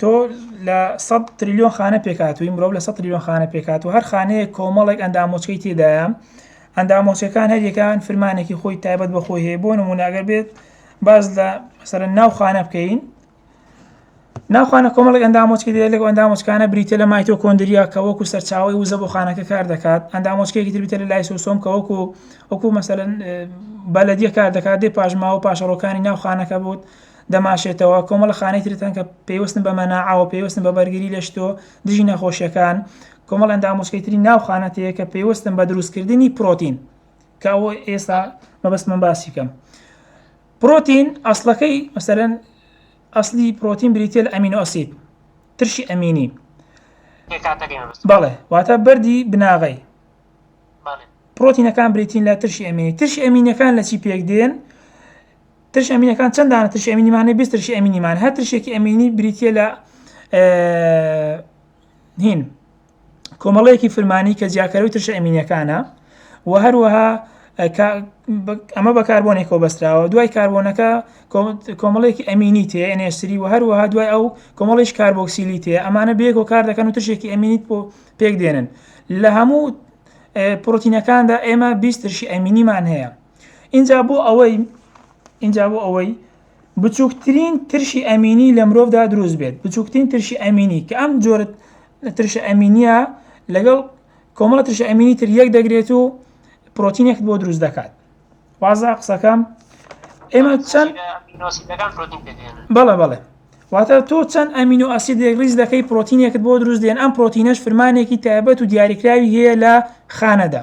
تۆ لە سەد تریلیۆن خانە پێکاتووی مرۆڤ لە سەد تریلیۆن خانە پێکاتوو هەر خانەیەک کۆمەڵێک ئەندامۆچکەی تێدایە ئەندامۆچەکان هەریەکان فرمانێکی خۆی تایبەت بە خۆی هەیە بۆ نمونوناگەر بێت باز لە سەر ناو خانە بکەین ناوخانە کۆمەڵک ئەندامۆچکی دێ لەگە ئەندامۆچکانە بریتە لە مایتۆ کۆندریا کە وەکو سەرچاوی وزە بۆ خانەکە کار دەکات ئەندامۆچکێکی تربیتە لە لای سوسۆم کە وەکو وەکو مەسەن بەلەدیە کار دەکات دێ پاشماوە پاشەڕۆکانی ناوخانەکە بوت دەماشێتەوە، کۆمەڵەخانەی ترت هەن کە پەیوەستن بە مەناعەوە، پەیوەستن بە بەرگری لە شتۆ دژی نەخۆشیەکان، کۆمەڵ ئەنداموچکەی تری ناو خانەت هەیە کە پەیوەستن بە دروستکردنی پرۆتین کە ئەوە ئێستا مەبەستمە باسی کەم. پرۆتین ئەسڵەکەی مەسەرەن ئەسلی پرۆتین بریتە لە ئەمین و ئەسید ترشی ئەمینی بەڵێ واتە بەری بناغی پرۆتینەکان بریتین لە ترشی ئەمینی ترشی ئەمینەکان لە چی پێک دێن ترشی ئەمینەکان چەند دانە ترشی ئەمینی مانێ بیست ترشی ئەمینی مان هەر ترشێکی ئەمینی بریتە لە هین کۆمەڵەیەکی فرمانی کە جیاکەرەوەی ترشە ئەمینەکانە و هەروەها ئەمە بە کاربۆنێک کۆبەستراوە دوای کاربۆنەکە کۆمەڵێکی ئەمینی تێ ئەنێسری و هەروەها دوای ئەو کۆمەڵیش کاربۆکسیلی تێ ئەمانە بێک و کار دەکەن و تشێکی ئەمینیت بۆ پێک دێنن لە هەموو پرۆتینەکاندا ئێمە بیسترشی ئەمینیمان هەیە ئینجا بۆ ئەوەی ئینجا بۆ ئەوەی بچووکترین ترشی ئەمینی لە مرۆڤدا دروست بێت بچووکترین ترشی ئەمینی کە ئەم جۆرە ترشە ئەمینیە لەگەڵ کۆمەڵە ترشە ئەمینی تر یەک دەگرێت و پرۆتینێکت بۆ دروست دەکات وازە قسەکەم ئێمە چەند بەڵێ بەڵێ واتە تۆ چەند ئەمین و ئەسیدێک ریز دەکەی پرۆتینێکت بۆ دروست دێن ئەم پرۆتینەش فرمانێکی تایبەت و دیاریکراوی هەیە لە خانەدا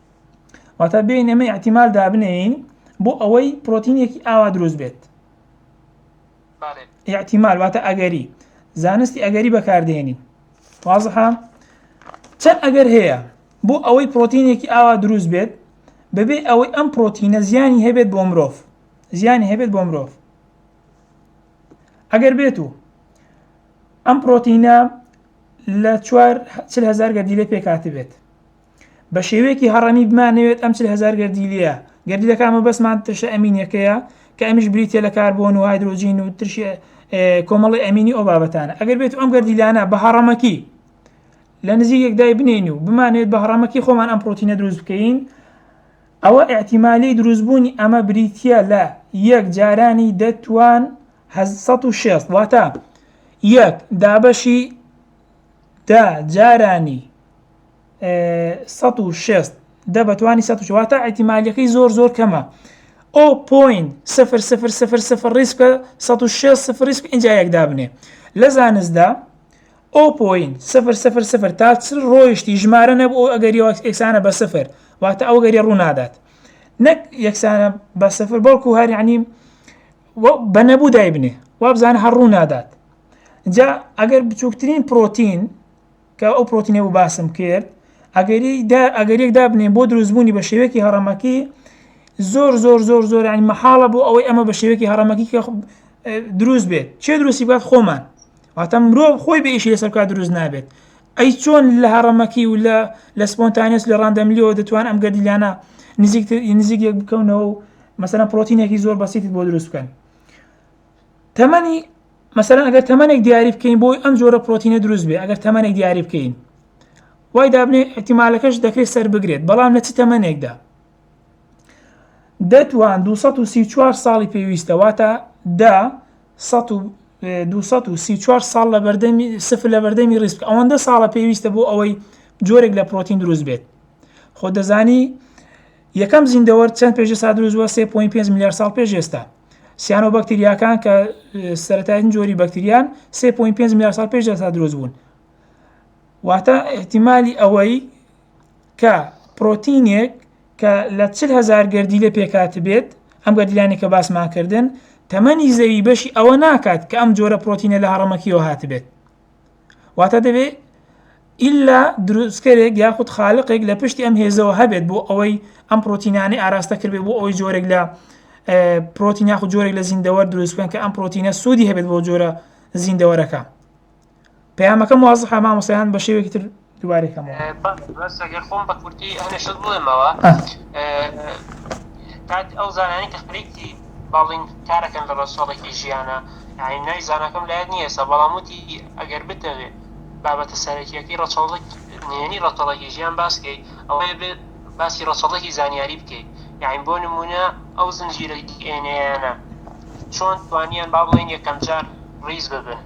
واتا بێین ئەمە احتیمال دابنێین بۆ ئەوەی پرۆتینێکی ئاوا دروست بێت احتیمال واتە ئەگەری زانستی ئەگەری بەکاردێنین وازحە چەند ئەگەر هەیە بۆ ئەوەی پرۆتینێکی ئاوا دروست بێت بەبێ ئەوەی ئەم پرۆتینە زیانی هەبێت بۆ مرۆڤ زیانی هەبێت بۆ مرۆڤ ئەگەر بێت و ئەم پرۆتینە لە چوار هزار گەردیلە پێکاتی بێت بە شێوەیەکی هەڕەمی بمانەوێت ئەم چل هەزار گەردیلەیە، گەردیلەکان مەبەستمان ترشە ئەمینیەکەیە کە ئەمیش بریتیە لە کاربۆن و هایدرۆجین و ترشی کۆمەڵی ئەمینی ئەو بابەتانە ئەگەر بێت ئەم گەردیلانە بە هەڕەمەکی لە نزیک یەکدای بنین و بمانێت بە هەڕەمەکی خۆمان ئەم پرۆتینە دروست بکەین ئەوە ئاحتیمالی دروستبوونی ئەمە بریتە لە یەک جارانی دەتوان 1600 واتە یەک دابەشی دا جارانی سەد و شێست دە بە توانی سەد و چوار واتە ئەحتیمالییەکەی زۆر زۆر کەمە ئەو پۆین سفر سفر سفر سفر ڕیسکە سەد و شێست سفر ڕیسک ئینجا یەک دابنێ لە زانستدا ئەو پۆین سفر سفر سفر تا چل ڕۆیشتی ژمارە نەبوو ئەو ئەگەری ئەکسانە بە سفر واتە ئەو گەری ڕوو نادات نەک یەکسانە بە سفر بەڵکو هەر یعنی بە نەبوو دایبنێ وابزانە هەر ڕوو نادات جا ئەگەر بچووکترین پرۆتین کە ئەو پرۆتینە بوو باسم کرد ئەگەری دا ئەگەریێک دابنێن بۆ دروستبوونی بە شێوەیەکی هەڕەمەکی زۆر زۆر زۆر زۆر ینی مەحاڵە بۆ ئەوەی ئەمە بە شێوەیەکی هەڕەمەکی کە دروست بێت چێ دروستی بات خۆمان واتە مرۆڤ خۆی بە ئیشی لەسەر بکات دروست نابێت ئەی چۆن لە هەڕەمەکی و لە لە سپۆنتانیس لە ڕاندەملیەوە دەتوان ئەم گەردیلانە نزیک نزیک یەک بکەونەوە و مەسەە پرۆتینێکی زۆر بەسییت بۆ دروست بکەن تەمەنی مەسەلەن ئەگەر تەمەنێک دیاری بکەین بۆی ئەم جۆرە پرۆتینە دروست بێ ئەگەر تەمەنێک دیاری بکەین وای دابنێ ئەتیمالەکەش دەکرێت سەر بگرێت بەڵام لە چ تەمەنێکدا دەتوان 234 ساڵی پێویستە واتە دا 234 ساڵ لە بەردەمی سفر لە بەردەمی ڕیسک ئەوەندە ساڵە پێویستە بۆ ئەوەی جۆرێک لە پرۆتین دروست بێت خۆ دەزانی یەکەم زیندەوەر چەند پێش سا دروستوە 3.5 میلیار ساڵ پێش ئێستا سیانۆبەکتریاکان کە سەتایتن جۆری بەکتریان 3.5 میلیارد ساڵ پێش ئێستا دروست بوون واتە احتیممالی ئەوەی کە پرۆتینێک کە لە چل هزار گردی لە پێکات بێت ئەم گەردیلانی کە باسماکردن تەمەنی زەوی بەشی ئەوە ناکات کە ئەم جۆرە پرۆتینە لە هەڕەمەکیەوە هاتبێت واتە دەبێ ئیلا دروستکەرێک یاخود خالقێک لە پشتی ئەم هێزەوە هەبێت بۆ ئەوەی ئەم پرۆتینانەی ئاراستە کردێ بۆ ئەوەی جۆرێک لە پرۆتین یاخود جۆرێک لە زیندەوە دروستکەن کە ئەم پرۆتینە سوودی هەبێت بۆ جۆرە زیندەوەرەکە پەیامەکە موازحە مامۆسیان بە شێوێکی تر دوبارەی کەمەوە. باشە بەس ئەگەر خۆم بە کورتی هەنێ شت بڵێمەوە کاک ئەو زانانی کە خریکی باڵین کارەکەن لە ڕەسۆڵێکی ژیانە یعنی نای زانەکەم لایەت نییە سە بەڵام وتی ئەگەر بتەوێت بابەتە سەرەکیەکەی ڕەچەڵک نێنی ڕەتەڵێکی ژیان باسکەیت ئەوەیە بێت باسی ڕەچەڵێکی زانیاری بکەیت یعنی بۆ نمونە ئەو زنجیرە دی ئێنەیانە چۆن توانیان با بڵێن یەکەم جار ڕیز ببن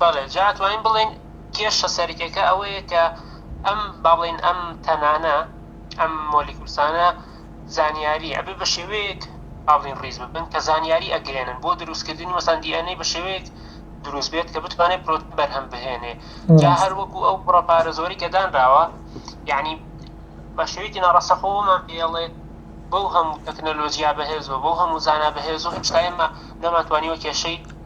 بەڵێ جا ئەتوانین بڵێین کێشە سەرەکیەکە ئەوەیە کە ئەم با بڵێین ئەم تەنانە ئەم مۆلیکولسانە زانیاری ئەبێ بە شێوەیەک با بڵێین ڕیز ببن کە زانیاری ئەگرێنن بۆ دروستکردنی مەسەن دی ئەن ئەی بە شێوەیەک دروست بێت کە بتوانێت پرۆتین بەرهەم بهێنێ جا هەر وەکو ئەو بڕە پارە زۆری کە دانراوە یعنی بە شێوەیەکی ناڕاستەخۆمان پێڵێ بەو هەموو تەکنەلۆژیا بەهێز و بەو هەموو زانا بەهێز و هەم شتایمە نەماتوانیوە کێشەی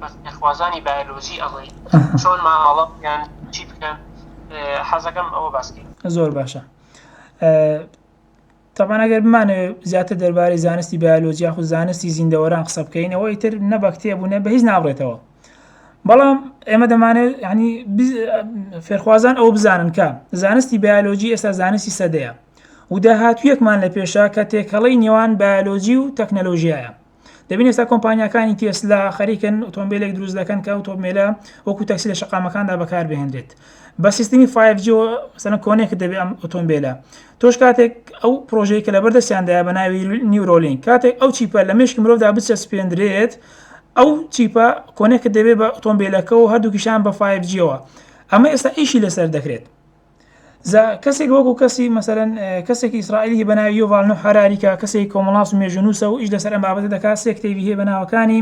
بەس نەخوازانی بایەلۆجی ئەڵێی چۆن مامەڵە بکەن چی بکەن حەزەکەم ئەوە باس کەی. زۆر باشە تەبان ئەگەر بمانەوێ زیاتر دەربارەی زانستی بایۆلۆجیا خو زانستی زیندەوەران قسە بکەین ئەوە ئیتر نە بە کتێب بوو نە بە هیچ ناڕێتەوە بەڵام ئێمە دەمانێت ینی فێرخوازان ئەو بزانن کە زانستی بایۆلۆجی ئێستا زانستی سەدەیە و داهاتویەکمان لە پێشە کە تێکەڵەی نێوان بایۆلۆجی و تەکنەلۆژیایە دەبین ئێستا کۆمپانیەکانی تێسلا خەریکن ئۆتۆمبیلێک دروست دەکەن کە ئۆتۆمبیلە وەکو تەکسی لە شقامەکاندا بەکار بهێنرێت بە سیستمی 5G سەنە کۆنێک دەبێت ئەم ئۆتۆمبیلە تۆش کاتێک ئەو پرۆژەی کە لە بەردەستیاندای بە ناوی نیورۆلین کاتێک ئەو چیپە لە مشک مرۆڤدا بچە سپێندرێت ئەو چیپە کۆنێکت دەبێت بە ئۆتۆمبیلەکە و هەردووکیشان بە 5Gەوە ئەمە ئێستا ئیشی لەسەر دەکرێت زە کەسێک وەکو کەسی مەسەرەن کەسێکی ئیسرائیلی بە ناوی یۆڤالنە حراریکە کەسێک کۆمەڵاس و مێژونووسە و ئیش لەسەر ئەم بابەتە دەکات سێ کتێبی هەیە بە ناوەکانی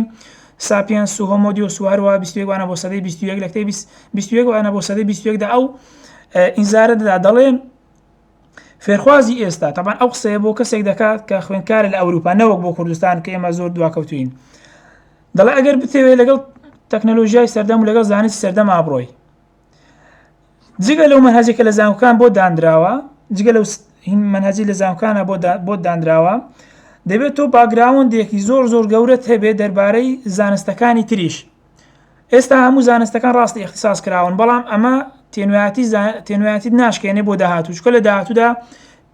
ساپیانس و هۆمۆدیۆس و هەروە بیستێکوانە بۆ سەدەی بیستویەک لە کتێب بیستویەکوانە بۆ سەدەی بیستویەکدا ئەو ئینزارە دەدا دەڵێن فێرخوازی ئێستا تەبان ئەو قسەیە بۆ کەسێک دەکات کە خوێنکار لە ئەوروپا نەوەک بۆ کوردستان کە ئێمە زۆر دواکەوتوین دەڵێ ئەگەر بتەوێت لەگەڵ تەکنەلۆژیای سەردەم و لەگەڵ زانست سەردەما بڕۆی جگە لەو مەنهەجە کە لە زانکۆکان بۆ دانراوە جگە لەو مەنهەجی لە زانکۆکانە بۆ دانراوە دەبێت تۆ باگراوەندێکی زۆر زۆر گەورەت هەبێت دەربارەی زانستەکانی تریش ئێستا هەموو زانستەکان ڕاستی اختصاص کراون بەڵام ئەمە تێنوایەتی تێنوایەتی ناشکێنێ بۆ داهاتوو چکە لە داهاتوودا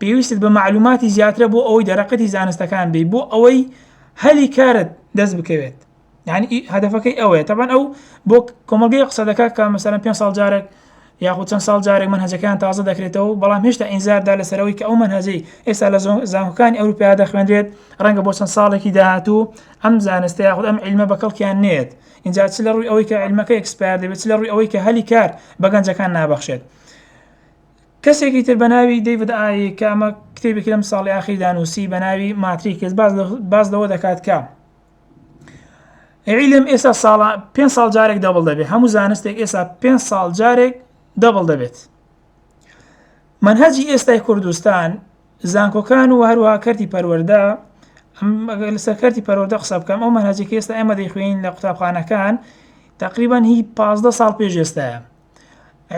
پێویستت بە معلوماتی زیاترە بۆ ئەوەی دەرەقەتی زانستەکان بی بۆ ئەوەی هەلی کارت دەست بکەوێت یعنی ئی هەدەفەکەی ئەوەیە تەبەن ئەو بۆ کۆمەڵگەی قسە دەکات کە مەسەرەن پێ ساڵ جارێک یاخود چەند ساڵ جارێک من هەزەکان تازە دەکرێتەوە بەڵام هێشتا ئینزاردا لەسەرەوەی کە ئەو من هەزەی ئێستا لە زانکۆکانی ئەوروپیا دەخوێنرێت ڕەنگە بۆ چەند ساڵێکی داهاتوو ئەم زانستە یاخود ئەم علمە بە کەڵکیان نێت اینجا چ لە ڕووی ئەوەی کە علمەکە ئەکسپار دەبێت چ لە ڕووی ئەوەی کە هەلی کار بە گەنجەکان نابەخشێت کەسێکی تر بە ناوی دەیڤد ئایی کە ئەمە کتێبێکی لەم ساڵی ئاخیدا نووسی بە ناوی ماتریکس باز لەوە دەکات کە عیلم ئێستا ساڵە پێ ساڵ جارێک دەبڵ دەبێت هەموو زانستێک ئێستا پێ ساڵ جارێک دەبڵ دەبێت منهجی ئێستای کوردستان زانکۆکان و هەروە کەرتی پەروەەردە لەسەر کەرتی پەرۆدە قسە بکەم ئەو مەنهجێکی ئێستا ئێمە دەیخوێنین لە قوتابخانەکان تقریبان هی پازدە ساڵ پێش ئێستاە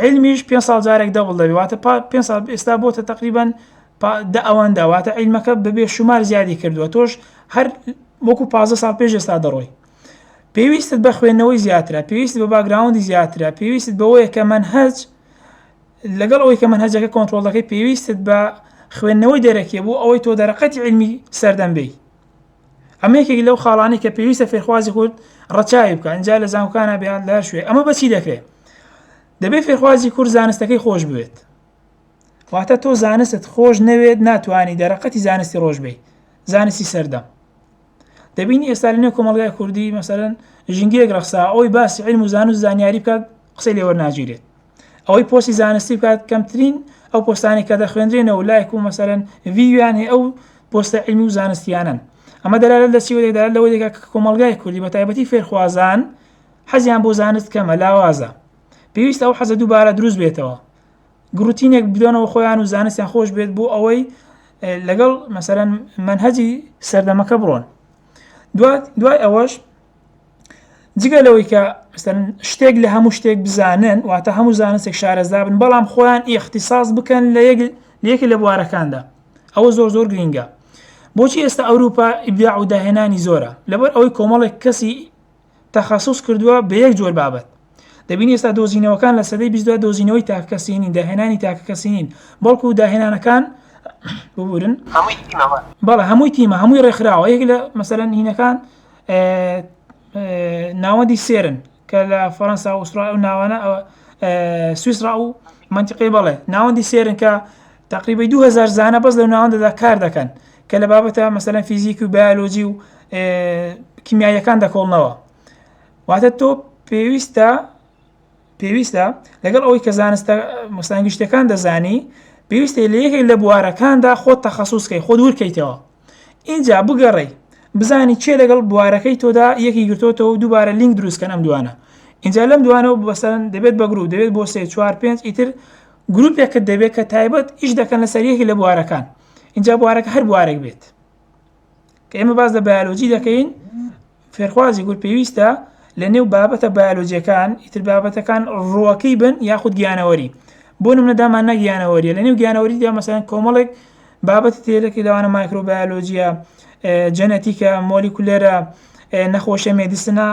علمیش پێ ساڵ جارێک دەبڵ دەبێت واتە پێ ساڵ ئێستا بۆتە تقریبان دە ئەوان داواتە عیلمەکە ببێ شومار زیادی کردووە تۆش هەر وەکو پ ساڵ پێش ئێستا دەڕۆی پێویستت بە خوێندنەوەی زیاترە پێویست بە باگراوندی زیاترە پێویست بەوەیە کە من هەج لەگەڵ ئەوەی کە من هەجەکە کۆنتترۆلەکەی پێویستت بە خوێندنەوەی دەرەکیە بوو ئەوەی تۆ دەرەقەتی علمی سەردەم بی ئەمە یەکێک لەو خاڵانی کە پێویستە فێرخوازی کورد ڕەچاوی بکە ئەجا لە زانکانە بیان لە شوێ ئەمە بەچی دەکرێت دەبێت فێرخوازی کورد زانستەکەی خۆش بوێت واتە تۆ زانست خۆش نەوێت ناتوانانی دەرەقەتی زانستی ڕۆژ بی زانستی سەردەم دەبینی ئێستا لەنێ کۆمەلگای کوردی مەسەرەن ژنگیەک ڕخسا ئەوی باسی علم و زانست زانیاری بکات قسەی لێوەرناگیرێت ئەوەی پۆستی زانستی بکات کەمترین ئەو پۆستانی کە دەخوێنرێنەوە لایک و مەسەرەن ویویان هەیە ئەو پۆستە علمی و زانستیانن ئەمە دەلالت لە چیوە دەدات لەوەی دەکات کە کۆمەلگای کوردی بە تایبەتی فێرخوازان حەزیان بۆ زانست کەمە لاوازە پێویستە ئەو حەزە دووبارە دروست بێتەوە گروتینێک بدۆنەوە خۆیان و زانستیان خۆش بێت بۆ ئەوەی لەگەڵ مەسەرەن منهجی سەردەمەکە بڕۆن دوای ئەوەش جگە لەوەی کە شتێک لە هەموو شتێک بزانن واتە هەموو زانستێک شارەزا بن بەڵام خۆیان ئیختصاص بکەن لە یەکێ لە بوارەکاندا ئەوە زۆر زۆر گرینگە بۆچی ئێستا ئەوروپا ئیبداع و داهێنانی زۆرە لەبەر ئەوەی کۆمەڵێک کەسی تەخصص کردووە بە یەک جۆر بابەت دەبینی ئێستا دۆزینەوەکان لە سەدەی بیست دوای دۆزینەوەی تاکەکەسینین داهێنانی تاکەکەسینین بەڵکو داهێنانەکان ببورن بەڵە هەمووی تیمە هەمووی ڕێکخراوە یەک لە مەسەرەن هینەکان ناوەندی سێرن کە لە فەەنسا وسرا و ناوانە سویسرا و منتیقی بەڵێ ناوەندی سێرن کە تقریبی 2000 زانە بەس لە ناوەندەدا کار دەکەن کە لە بابەتە مەسەەن فیزیک و بیالۆجی و کیمیاییەکان دەکۆڵنەوە واتە تۆ پێویستە پێویستە لەگەڵ ئەوەی کە زانستە مستانگشتەکان دەزانی پێویستە لە یەکێک لە بوارەکاندا خۆت تەخصصکەی خۆ دوورکەیتەوە ئینجا بگەڕێی بزانی چێ لەگەڵ بوارەکەی تۆدا یەکی گرتۆتەوە و دووبارە لینک دروستکەن ئەم دوانە ئینجا لەم دوانەوە بەسەرن دەبێت بە گرروپ دەبێت بۆ سێ چوار پێنج ئیتر گرروپێکت دەبێت کە تایبەت ئیش دەکەن لە سەریەکی لە بوارەکان اینجا بوارەکە هەر بوارێک بێت کە ئێمە باز لە بەیالۆجی دەکەین فێرخوازی گول پێویستە لە نێو بابەتە بایۆلۆجیەکان ئیتر بابەتەکان ڕووەکەی بن یاخود گیانەوەری بۆ نمونە داماننا گیانەوەریە لە نێو گیانەوەریدا مەسەن کۆمەڵێک بابەتی تێلەکە لەوانە مایکرۆبایۆلۆجیە جەنەتیکە مۆلی کولێرە نەخۆشە مێدیسنا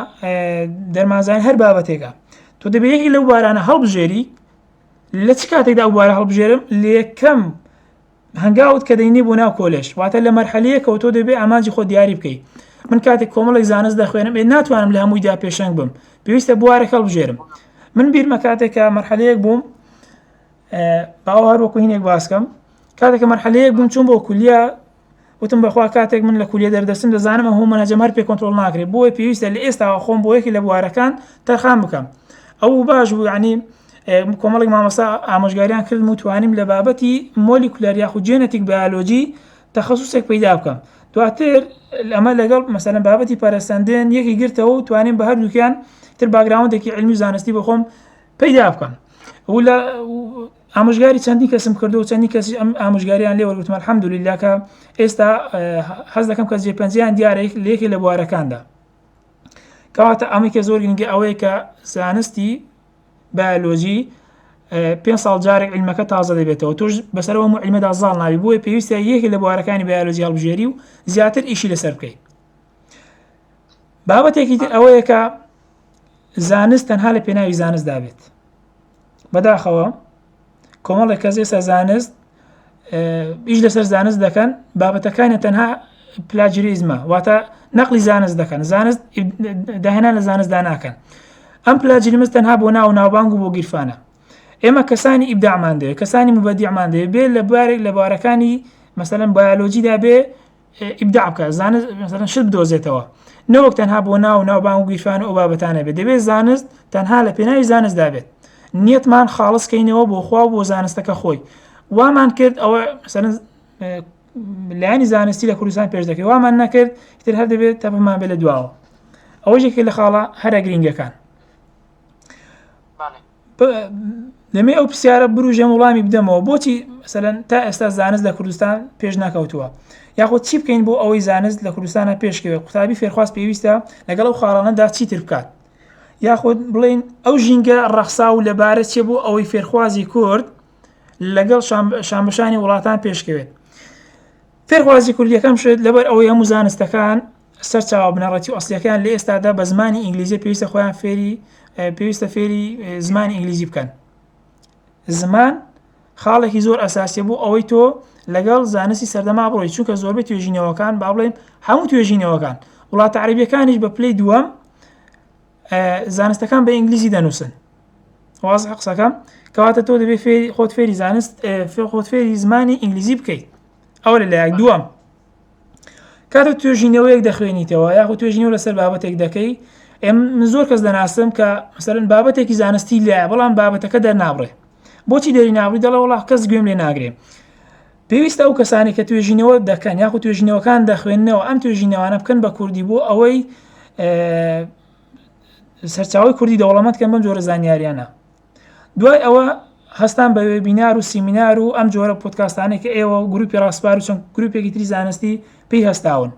دەرمازان هەر بابەتێکە تۆ دەبێت یەکی لەو بارانە هەڵبژێری لە چ کاتێکدا ئەو بارە هەڵبژێرم لە یەکەم هەنگاوت کە دەینی بۆ ناو کۆلێژ واتە لە مەرحەلەیەکەوە تۆ دەبێ ئامانجی خۆت دیاری بکەی من کاتێک کۆمەڵێک زانست دەخوێنم ئێ ناتوانم لە هەموویدا پێشەنگ بم پێویستە بوارێک هەڵبژێرم من بیرمە کاتێکە مەرحەلەیەک بووم باوە هەروەکو هینێک باسکەم کاتێکە مەرحەلەیەک بووم چوون بۆ کولیا وتم بەخوا کاتێک من لە کولیە دەردەچم دەزانم ئەو هۆمۆنە جەمەر پێ کۆنترۆڵ ناکرێ بۆیە پێویستە لە ئێستاوە خۆم بۆ یەکی لە بوارەکان تەرخان بکەم ئەو باش بوو عنی کۆمەڵی مامەسا ئامۆژگاریان کردم و توانیم لە بابەتی مۆلی کولار یاخو جێنەتیک بەالۆجی تەخصوصێک پەیدا بکەم دواتر ئەمە لەگەڵ مەسەن بابەتی پەرسەندن یەکی گرتەوە و توانیم بە هەردووکیان تر باگراوندێکی علمی زانستی بخۆم پەیدا بکەم و لە ئامۆژگاری چەندین کەسم کردو و چەندین کەسی ئەم ئامۆژگاریان لێ وەرگتمە الحمدلله کە ئێستا حەز دەکەم کە جێ پەنجیان دیارە لێکی لە بوارەکاندا کەواتە ئەمەکە زۆر گرنگی ئەوەیە کە زانستی بایۆلۆژی پێ ساڵ جارێک علمەکە تازە دەبێتەوە تۆش بەسەرەوە علمەدا زاڵ ناوی بۆیە پێویستە یەکی لە بوارەکانی بایۆلۆژی هەڵبژێری و زیاتر ئیشی لەسەر بکەیت بابەتێکی تر ئەوەیە کە زانست تەنها لە پێناوی زانست دابێت بەداخەوە کۆمەڵێک کەس ئێستا زانست ئیش لەسەر زانست دەکەن بابەتەکانی تەنها پلاجریزمە واتە نەقلی زانست دەکەن زانست داهێنان لە زانستدا ناکەن ئەم پلاجریمز تەنها بۆ ناو ناوبانگ و بۆ گیرفانە ئێمە کەسانی ئیبدامان دەوێت کەسانی مبەدیمان دەوێت بێ لە بارێک لە بارەکانی مەسەن بایۆلۆجیدا بێ ئیبداع بکات زانست مثلا شت بدۆزێتەوە نەوەک تەنها بۆ ناو و ناوبان و گیرفان و ئەو بابەتانە بێت دەبێت زانست تەنها لە پێناوی زانستدا بێت نیەتمان خاڵس کەینەوە بۆ خوا بۆ زانستەکە خۆی وامان کرد ئەوە مثلا لایانی زانستی لە کوردستان پێش دەکەی وامان نەکرد تر هەر دەبێت تەپمان بێت لە دواوە ئەوەیەکی لە خاڵە هەرە گرنگەکان دەمێ ئەو پرسیارە بروژێن وڵامی بدەمەوە بۆچی سەلەن تا ئێستا زانست لە کوردستان پێش ناکەوتووە یاخود چی بکەین بۆ ئەوەی زانست لە کوردستانە پێشکەوێت قوتابی فێرخواست پێویستە لەگەڵ ئەو خاڵانەدا چیتر بکات یاخود بڵین ئەو ژینگە ڕەخسا و لەبارە چێ بۆ ئەوەی فێرخوازی کورد لەگەڵ شامبەشانی وڵاتان پێشکەوێت فێرخوازی کوردیەکەم شێت لەبەر ئەوەی هەموو زانستەکان سەرچاوە بنەڕەتی و ئەسڵیەکەیان لە ئێستادا بە زمانی ئینگلیزی پێویستە خۆیان فێری پێویستە فێری زمانی ئینگلیزی بکەن زمان خاڵێکی زۆر ئەساسیە بۆ ئەوەی تۆ لەگەڵ زانستی سەردەما بڕۆی چونکە زۆربەی توێژینەوەکان با بڵێن هەموو توێژینەوەکان وڵاتە عربیەکانیش بە پلی دووەم زانستەکان بە ئینگلیزی دەنووسن واز قسەکەم کەواتە تۆ دەبێت فێری خۆت فێری زانست فێ خۆت فێری زمانی ئینگلیزی بکەیت ئەو لە لایەک دووەم کاتێک توێژینەوەیەک دەخوێنیتەوە یاخود توێژینەوە لەسەر بابەتێک دەکەی ئێم زۆر کەس دەناسم کە مەسەرن بابەتێکی زانستی لایە بەڵام بابەتەکە دەرنابڕێ بۆچی دەری ناوی دەڵە وڵا کەس گوێم لێ ناگرێ پێویستە ئەو کەسانی کە توێژینەوە دەکەن یاخو توێژینەوەکان دەخوێندنەوە ئەم توێژینەوانە بکەن بە کوردی بۆ ئەوەی سەرچاوی کوردی دەوڵەمەند کەم بەم جۆرە زانیاریانە دوای ئەوە هەستان بە وێبینار و سیمینار و ئەم جۆرە پۆتکاستانێک کە ئێوە و گروپی ڕاسپار و چەند گروپێکی تری زانستی پێی هەستاون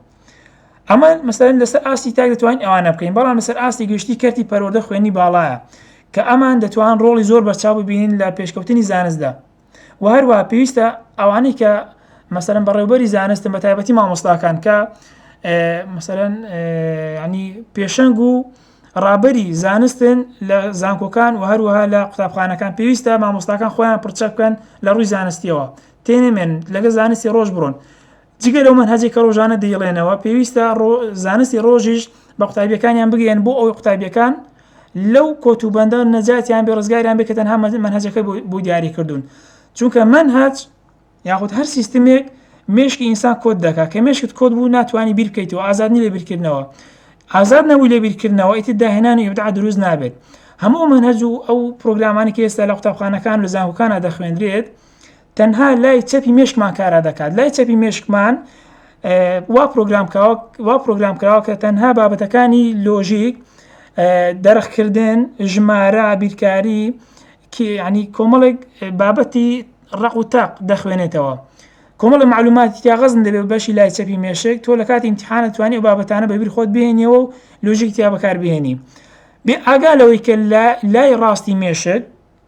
ئەمە مەسەرن لەسەر ئاستی تاک دەتوانین ئەوانە بکەین بەڵام لەسەر ئاستی گشتی کەرتی پەروەردە خوێنی باڵایە کە ئەمان دەتوان ڕۆڵی زۆر بەرچاو ببینین لە پێشکەوتنی زانستدا و هەروە پێویستە ئەوانەی کە مەسەرم بەڕێوبەری زانستم بە تایبەتی مامۆستاکان کە مەسەرەن ینی پێشەنگ و ڕابەری زانستن لە زانکۆکان و هەروەها لە قوتابخانەکان پێویستە مامۆستاکان خۆیان پرچە بکەن لە ڕووی زانستیەوە تێنێمێن لەگە زانستی ڕۆژ بڕۆن جگە لەو مەنهەجەی کە ڕۆژانە دەیڵێنەوە پێویستە زانستی ڕۆژیش بە قوتابیەکانیان بگەن بۆ ئەو قوتابیەکان لەو کۆت و بەندە نەجاتیان بێ ڕزگاریان بێ کە تەنها مەنهەجەکە بۆ دیاری کردوون چونکە من هاچ یاخود هەر سیستمێک مشکی ئینسان کۆت دەکات کە مشکت کۆت بوو ناتوانانی بیرکەیت و ئازادنی لە بیرکردنەوە ئازاد نەبوو لە بیرکردنەوە ئیتی داهێنانی ئبدع دروست نابێت هەموو منهج و ئەو پرۆگرامانی کە ئێستا لە قوتابخانەکان لە زانکۆکانە دەخوێندرێت تەنها لای چەپی مێشکمان کارا دەکات لای چەپی مێشکمان وا پرۆگرام کراوە وا پرۆگرام کراوە کە تەنها بابەتەکانی لۆژیک دەرخکردن ژمارە بیرکاری ینی کۆمەڵێک بابەتی ڕق و تاق دەخوێنێتەوە کۆمەڵە معلوماتی تیاغەزن دەبێت بەشی لای چەپی مێشک تۆ لە کاتی امتحانە توانی و بابەتانە بەبییر خۆت بێنیەوە و لۆژیک تیا بەکار بێنی بێ ئاگا لەوەی کە لە لای ڕاستی مێشک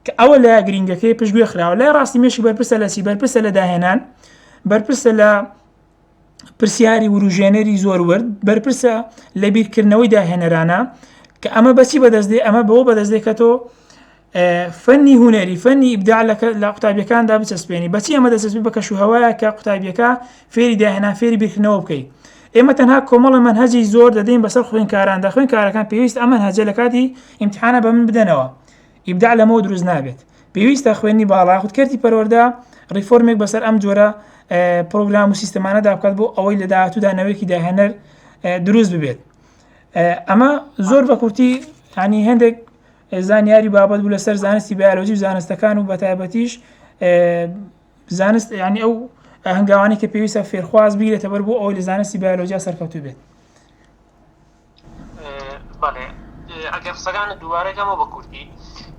کە ئەوە لە گرنگەکەی پشت گوێ خراوە لای ڕاستی مێشک بەرپرسە لە سی بەرپرسە لە داهێنان بەرپرسە لە پرسیاری وروژێنەری زۆر ورد بەرپرسە لە بیرکردنەوەی داهێنەرانە کە ئەمە بەچی بەدەستێ ئەمە بەوە بەدەستێکەەوە فەنی هوەری فەنی ئیبدا لە قوتابیەکاندا بچەسپێنی بەچی ئەمە دەسەست بە کەش و هەوایە کە قوتابیەکە فێری داهێنا فێری بیرکردنەوە بکەیت ئێمە تەنها کۆمەڵە من هەجی زۆر دەدەین بەسەر خوێنکاران دە خوێنکارەکان پێویست ئەمە هەجە لە کاتی ئیمتحانە بە من بدەنەوە ئیبداع لەمەوە دروست نابێت پێویستە خوێندنی باڵا یاخود کەرتی پەروەردە ڕیفۆرمێک بەسەر ئەم جۆرە پرۆگرام و سیستمانەدا بکات بۆ ئەوەی لە داهاتوودا نەوەیەکی داهێنەر دروست ببێت ئەمە زۆر بە کورتی ینی هەندێک زانیاری بابەت بوو لەسەر زانستی بیالۆجی و زانستەکان و بەتایبەتیش زانست ینی ئەو هەنگاوانی کە پێویستە فێرخواز بیرێتە بەر بۆ ئەوەی لە زانستی بیالۆجیا سەرکەوتو بێت بەڵێ ئەگەر قسەکانت دووبارە کەمە بە کوردی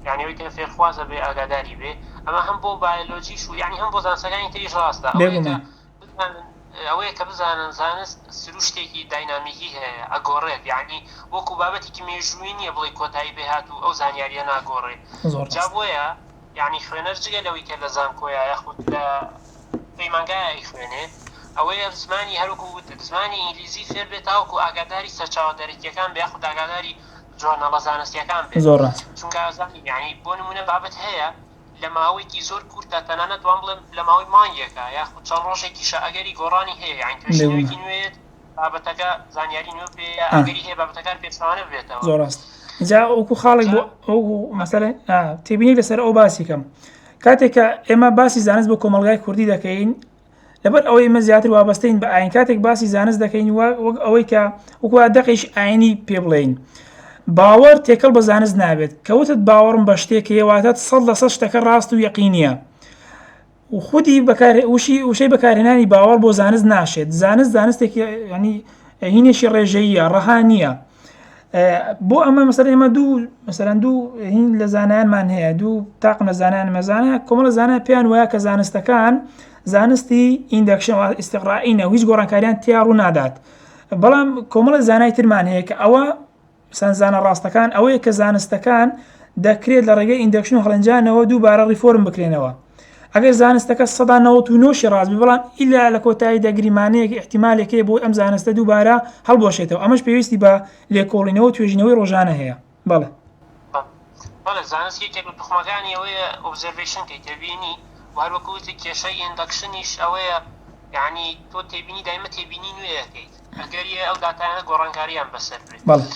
یعنی ئەوی کە فێرخوازە بێ ئاگاداری بێ ئەمە هەم بۆ بایۆلۆژیش و یعنی هەم بۆ زانسەکانی تریش ڕاستە ئەوەیە کە بزانن ئەوەیە کە بزانن زانست سروشتێکی داینامیکی هەیە ئەگۆڕێت یعنی وەکو بابەتێکی مێژووی نییە بڵی کۆتایی پێهات و ئەو زانیاریە ناگۆڕێ جا بۆیە یانی خوێنەر جگە لەوەی کە لە زانکۆیە یاخود لە پەیمانگایە ئەیخوێنێ، ئەوەیە زمانی هەر وەکو وتت زمانی ئینگلیزی فێر بێت تاوەکو ئاگاداری سەرچاوە دەرەکییەکان بێ یاخود ئاگاداری جۆرناڵە زانستییەکان بێ. زۆر ڕاست. چونکە زانی یانی بۆ نموونە بابەت هەیە لە ماوەیەکی زۆر کورتە تەنانەت وام بڵێم لە ماوەی مانگێکە یاخود چەند ڕۆژێکیشە ئەگەری گۆڕانی هەیە یانی توێژینەوەیەکی نوێ یەت، بابەتەکە زانیاری نوێ پێ ئەگەری هەیە بابەتەکان پێچەوانە بێتەوە زۆر ڕاست جا وەکو خاڵێک بۆ ئەو مەسەر تێبینی لەسەر ئەو باسی کەم کاتێکە ئێمە باسی زانست بۆ کۆمەلگای کوردی دەکەین لەبەر ئەوەی مە زیاتر وابستین بە ئاین کاتێک باسی زانست دەکەین وەک ئەوەی کە وکووا دەقیش ئاینی پێ بڵین باوەر تێکەڵ بە زانست نابێت کەوتت باوەڕم بە شتێک هێواتە سەد لە سە شتەکە ڕاست و یەقینە خودی بەکارێ وشی وشەی بەکارهێنانی باوەڕ بۆ زانست ناشێت زانست زانستێکی ینی هینێکی ڕێژەیە ڕەها نییە بۆ ئەمە مەسەر ئێمە دوو مەسەرەن دوو هین لە زانانمان هەیە دوو تاقم لە زانان مەزانە کۆمەڵە زانە پێیان وایە کە زانستەکان زانستی ئیندەکشەوە ئیسیغڕائینە هیچ گۆڕانکاریان تیا ڕوو نادات بەڵام کۆمەڵە زانای ترمان هەیە کە ئەوە چەند زانا ڕاستەکان ئەوەیە کە زانستەکان دەکرێت لە ڕێگەی ئیندەکشن و هەڵێنجانەوە دووبارە ڕیفۆرم بکرێنەوە ئەگەر زانستەکە سەدا نەوەت و نۆشی ڕاست بێ بەڵام ئیلا لە کۆتاییدا گریمانەیەک ئیحتیمالێک هەیە بۆی ئەم زانستە دووبارە هەڵبوەشێتەوە ئەمەش پێویستی بە لێکۆڵینەوە و توێژینەوەی ڕۆژانە هەیە بەڵێ بەڵێ زانست یەکێک لە توخمەکانی ئەوەیە ئۆبزەرڤەیشن کەی تێبینی و هەر وەکو وتت کێشەی ئیندەکشنیش ئەوەیە یەعنی تۆ تێبینی دایمە تێبینی نوێ ئەکەیت ئەگەریە ئەو داتایانە گۆڕانکاریان بەسەر برێ. بەڵێ.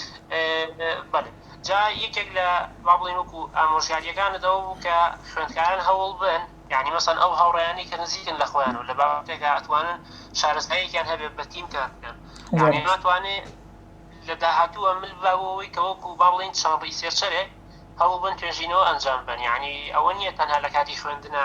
بەڵێ. جا یەکێک لە وا بڵێین وەکو ئامۆژگاریەکانت ئەوە بوو کە خوێندکاران هەوڵ بن یانی مەسەن ئەو هاوڕێیانی کە نزیکن لە خۆیان و لە بابەتێکا ئەتوانن شارەزاییەکیان هەبێ بە تیم کار بکەن. یانی ناتوانێ لە داهاتووە مل بە بۆەوەی کە وەکو با بڵێین چەند ڕیسێرچەرێک هەوڵ بن توێژینەوە ئەنجام بەن یانی ئەوە نییە تەنها لە کاتی خوێندنا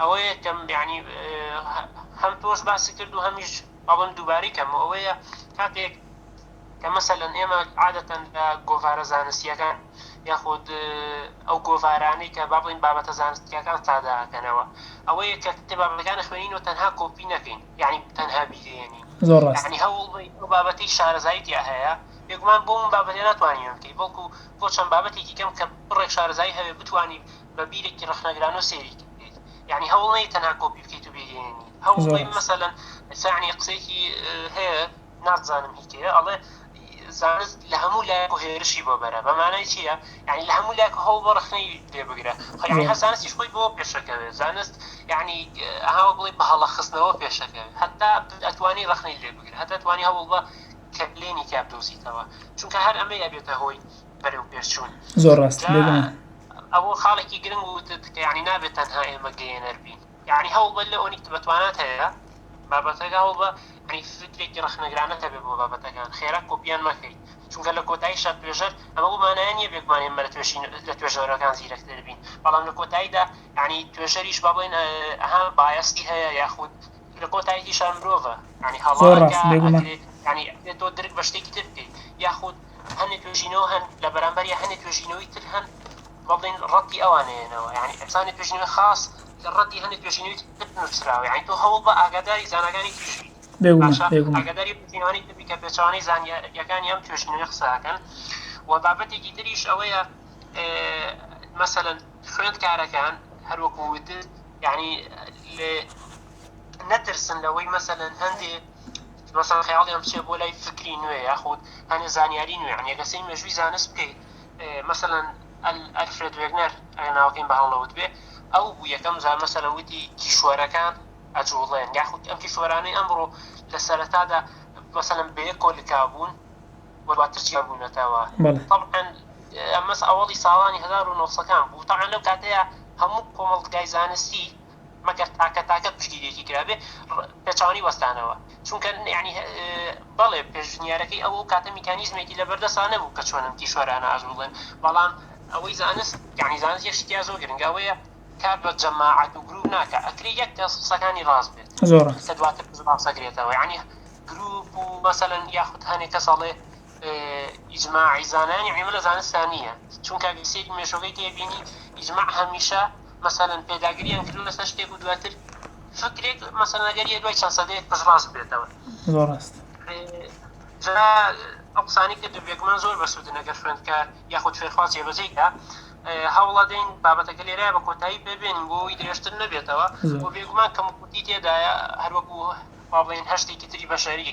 ئەوەیە کە یانی هەم تۆش باسی کرد و هەمیش ئەڵم دووباری کەم و ئەوەیە کاتێک کە مەسەلەن ئێمە عادەتەن لە گۆڤارە زانستیەکان یاخود ئەو گۆڤارانی کە با بڵین بابەتە زانستیەکان ساداکەنەوە ئەوەیە کە کتێبابەکان خوێنین و تەنها کۆپی نەکەین یعنی تەنها بیگەێنین ینی هەوڵ بابەتی شارەزایی تیا هەیە بێگومان بۆ من بابەتێ ناتوانین بکەین بەڵکو بۆ چەند بابەتێکی کەم کە بڕێک شارەزایی هەوێ بتوانین بە بیرێکی ڕەخنەگرانە و سەیری بکەیت یعنی هەوڵ نەی تەنها کۆپی بکەیت و بیگەێنی هەوڵی مەسەەن سانی قسێکی هەیە نازانم هیتەیە ئەڵێ زانست لە هەموو لایەک و هێرشی بۆ بەرە بەمانای چییە یعنی لە هەموو لایەک هەوڵ بۆ ڕخنەی لێ بگرە خۆیانی هە زانستیش خۆی بۆ پێشەکەوێت زانست یعنی ئەهاوە بڵێ بە هەڵە خستنەوە پێشەکەوێت هەتا ئەتوانی ڕخنەی لێ بگرە هەتا توانی هەوڵ بە کە بلێنی تیا بدۆزیتەوە چونکە هەر ئەمەی ئەبێتە هۆی بەرەوپێشچوون زۆر ڕاست ئەوە خاڵێکی گرنگ وتت کە یعنی نابێت تەنها ئێمە گەێنەر بین یعنی هەوڵ بە لە ئۆنیکت بەتوانات هەیە بابەتەکە هەوڵ بە عنی فکرێکی ڕخنەگرانە هەبێ بۆ بابەتەکان خێرا کۆپیان مەکەیت چونکە لە کۆتایی شە توێژەر ئەمە بمانایان نیە بێکمان ئێمە لە توێشین لە توێژەرەکان زیرەکتر بین بەڵام لە کۆتاییدا عنی توێژەریش با بڵێن ئەها بایەستی هەیە یاخود لە کۆتاییشان مرۆڤە ینی هەڵ ینی تۆ درک بە شتێکی تر بکەیت یاخود هەنێ توێژینەوە هەن لە بەرامبەر یا هەنێ توێژینەوەی تر هەن بڵین ڕەتی ئەوانەیەنەوە یعنی ئەسانی توێژینەوە خاص کە ڕەتی هەنێ توێژینەوەی تر نووسراوە یعنی تۆ هەوڵ بە ئاگاداری زاناکانی تریش بیت ئاگاداری توێژینەوەی تر بی کە پێچوانەی زانیەکانی ئەم توێژینەوەی قسەکەن و بابەتێکی تریش ئەوەیە مەسەن خوێندکارەکان هەروەکو وتت یعنی لێ نەترسن لەوەی مەسەن هەندێ مەسەڵەن خەیاڵیان بچێت بۆ لای فکری نوێ یاخود هەنێ زانیاری نوێ یعنی ئەگەر سەی مێژووی زانست بکەیت مەسەڵەن ئەلفرێد وێگنەر ئەگەر ناوەکەیم بە هەڵ نەوت بێ ئەو بوو یەکەم جار مەسەڵەن وتی کیشوەرەکان ئەجوڵێن یاخود ئەم کیشوەرانەی ئەمڕۆ لە سەرەتادا مەسەڵەن بەیەک کۆلکا بوون و دواتر چیا بوونەتەوە تەبعەن ئەمەس ئەوەڵی ساڵانی هەزار و نۆ سەد کان بوو تەبعەن لەو کاتەیە هەموو کۆمەڵگای زانستی مەگەر تاکە تاکە پشتگیریەکی کرابێ پێچەوانەی وەستانەوە چونکە یانی بەڵێ پێشنیارەکەی ئەو ئەو کاتە میکانیزمێکی لەبەردەسا نەبوو کە چۆنن کیشوەرانە ئاژوڵێن بەڵام ئەوەی زانست یانی زانست یەک شتیا زۆر گرنگە ئەوەیە کار بە جەماعەت و گروپ ناکە ئەکری یەک کەس قسەکانی ڕاست بێت زۆر کە دواتر ڕاستەگرێتەوە یانی گروپ و مەسەن یاخود هەنێک کە ساڵێ ئیجماعی زانانی عیمە لە زانستانە چونکە سێک مێشۆگەی تێبینی ئیجماع هەمیشە مەسەلەن پێداگرییان کردووە لەسەر شتێک و دواتر فکرێک مەسەلەن ئەگەر یە دوای چەند سەدەیەک پشتڕاست بێتەوە زۆر ڕاست جا ئەو قسانەی کە دوبێکمان زۆر بەسوودن ئەگەر خوێندکار یاخود فێرخواز جێبەجێی کا هەوڵە دەین بابەتەکە لێرە بە کۆتایی پێبێن بۆی درێژتر نەبێتەوە بۆ بێگومان کەم کوردی تێدایە هەروەکو پابڵین هەشتێکی تری بەشەری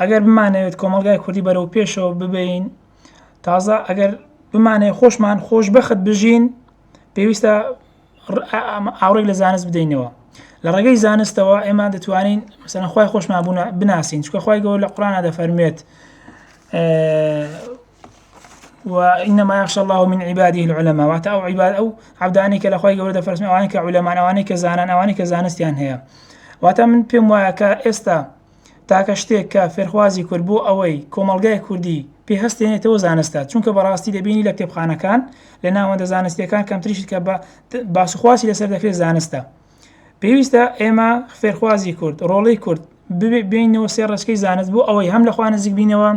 ئەگەر بمانەوێت کۆمەلگای کوردی بەرەو پێشەوە ببین تازە ئەگەر بمانەیە خۆشمان خۆش بەخت بژین پێویستە ئاوڕێک لە زانست بدەینەوە لە ڕێگەی زانستەوە ئێمە دەتوانین مەسەنخوای خۆشمان بوون بناسین چکەخوای گەۆ لە قڕانە دەفەرموێت وإنما يخشى الله من عباده العلماء واتە ئەو عیباد ئەو عەبدانەی کە لە خوای گەورە دەپەرستن ئەوانەی کە عولەمان ئەوانەی کە زانان ئەوانەی کە زانستیان هەیە واتە من پێم وایە کە ئێستا تاکە شتێک کە فێرخوازی کورد بۆ ئەوەی کۆمەڵگای کوردی پێ هەستێنێتەوە زانستە چونکە بەڕاستی دەبینی لە کتێبخانەکان لە ناوەندە زانستیەکان کەمتریشت کە بە باسوخواسی لەسەر دەکرێت زانستە پێویستە ئێمە فێرخوازی کورد ڕۆڵی کورد بینەوە سێ ڕچکەی زانست بوو ئەوەی هەم لەخوا نزیک بینەوە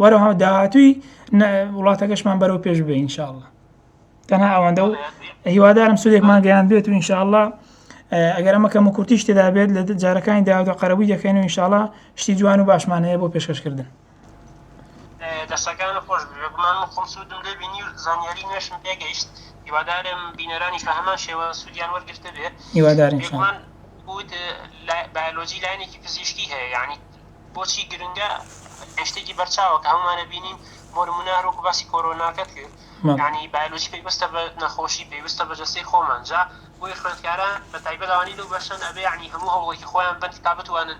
وەرەها داهاتوی وڵاتەکەشمان بەرەو پێش بێ انشاءله تەنها ئەوەندە و هیوادارم سودێکمان گەیان بێت و انشاءله ئەگەر ئەمە کەم و کورتیش تێدا بێت لە جارەکانی داودا قەرەبووی دەکەین و انشاءله شتی جوان و باشمانەیە بۆ پێشکەشکردن دەستەکانت خۆش بێ بێگومان من خۆم سوودم لێ بینی و زانیاری نوێشم پێگەیشت هیوادارم بینەرانیش بە هەمان شێوە سوودیان وەرگرتە بێ هیوادارم بێگومان بوت بایۆلۆجی لاینێکی پزیشکی هەیە یعنی بۆچی گرنگە شتێکی بەرچاوە کە هەمومانە بینین بۆ نمونە هەروکو باسی کۆرۆناکەت کرد یعنی بایۆلۆجی پێویستە بە نەخۆشی پێویستە بە جەستەی خۆمان جا بۆی خوێندکاران بە تایبەت ئەوانی لەو بەشەن ئەبێ یعنی هەموو هەوڵێکی خۆیان بن تا بتوانن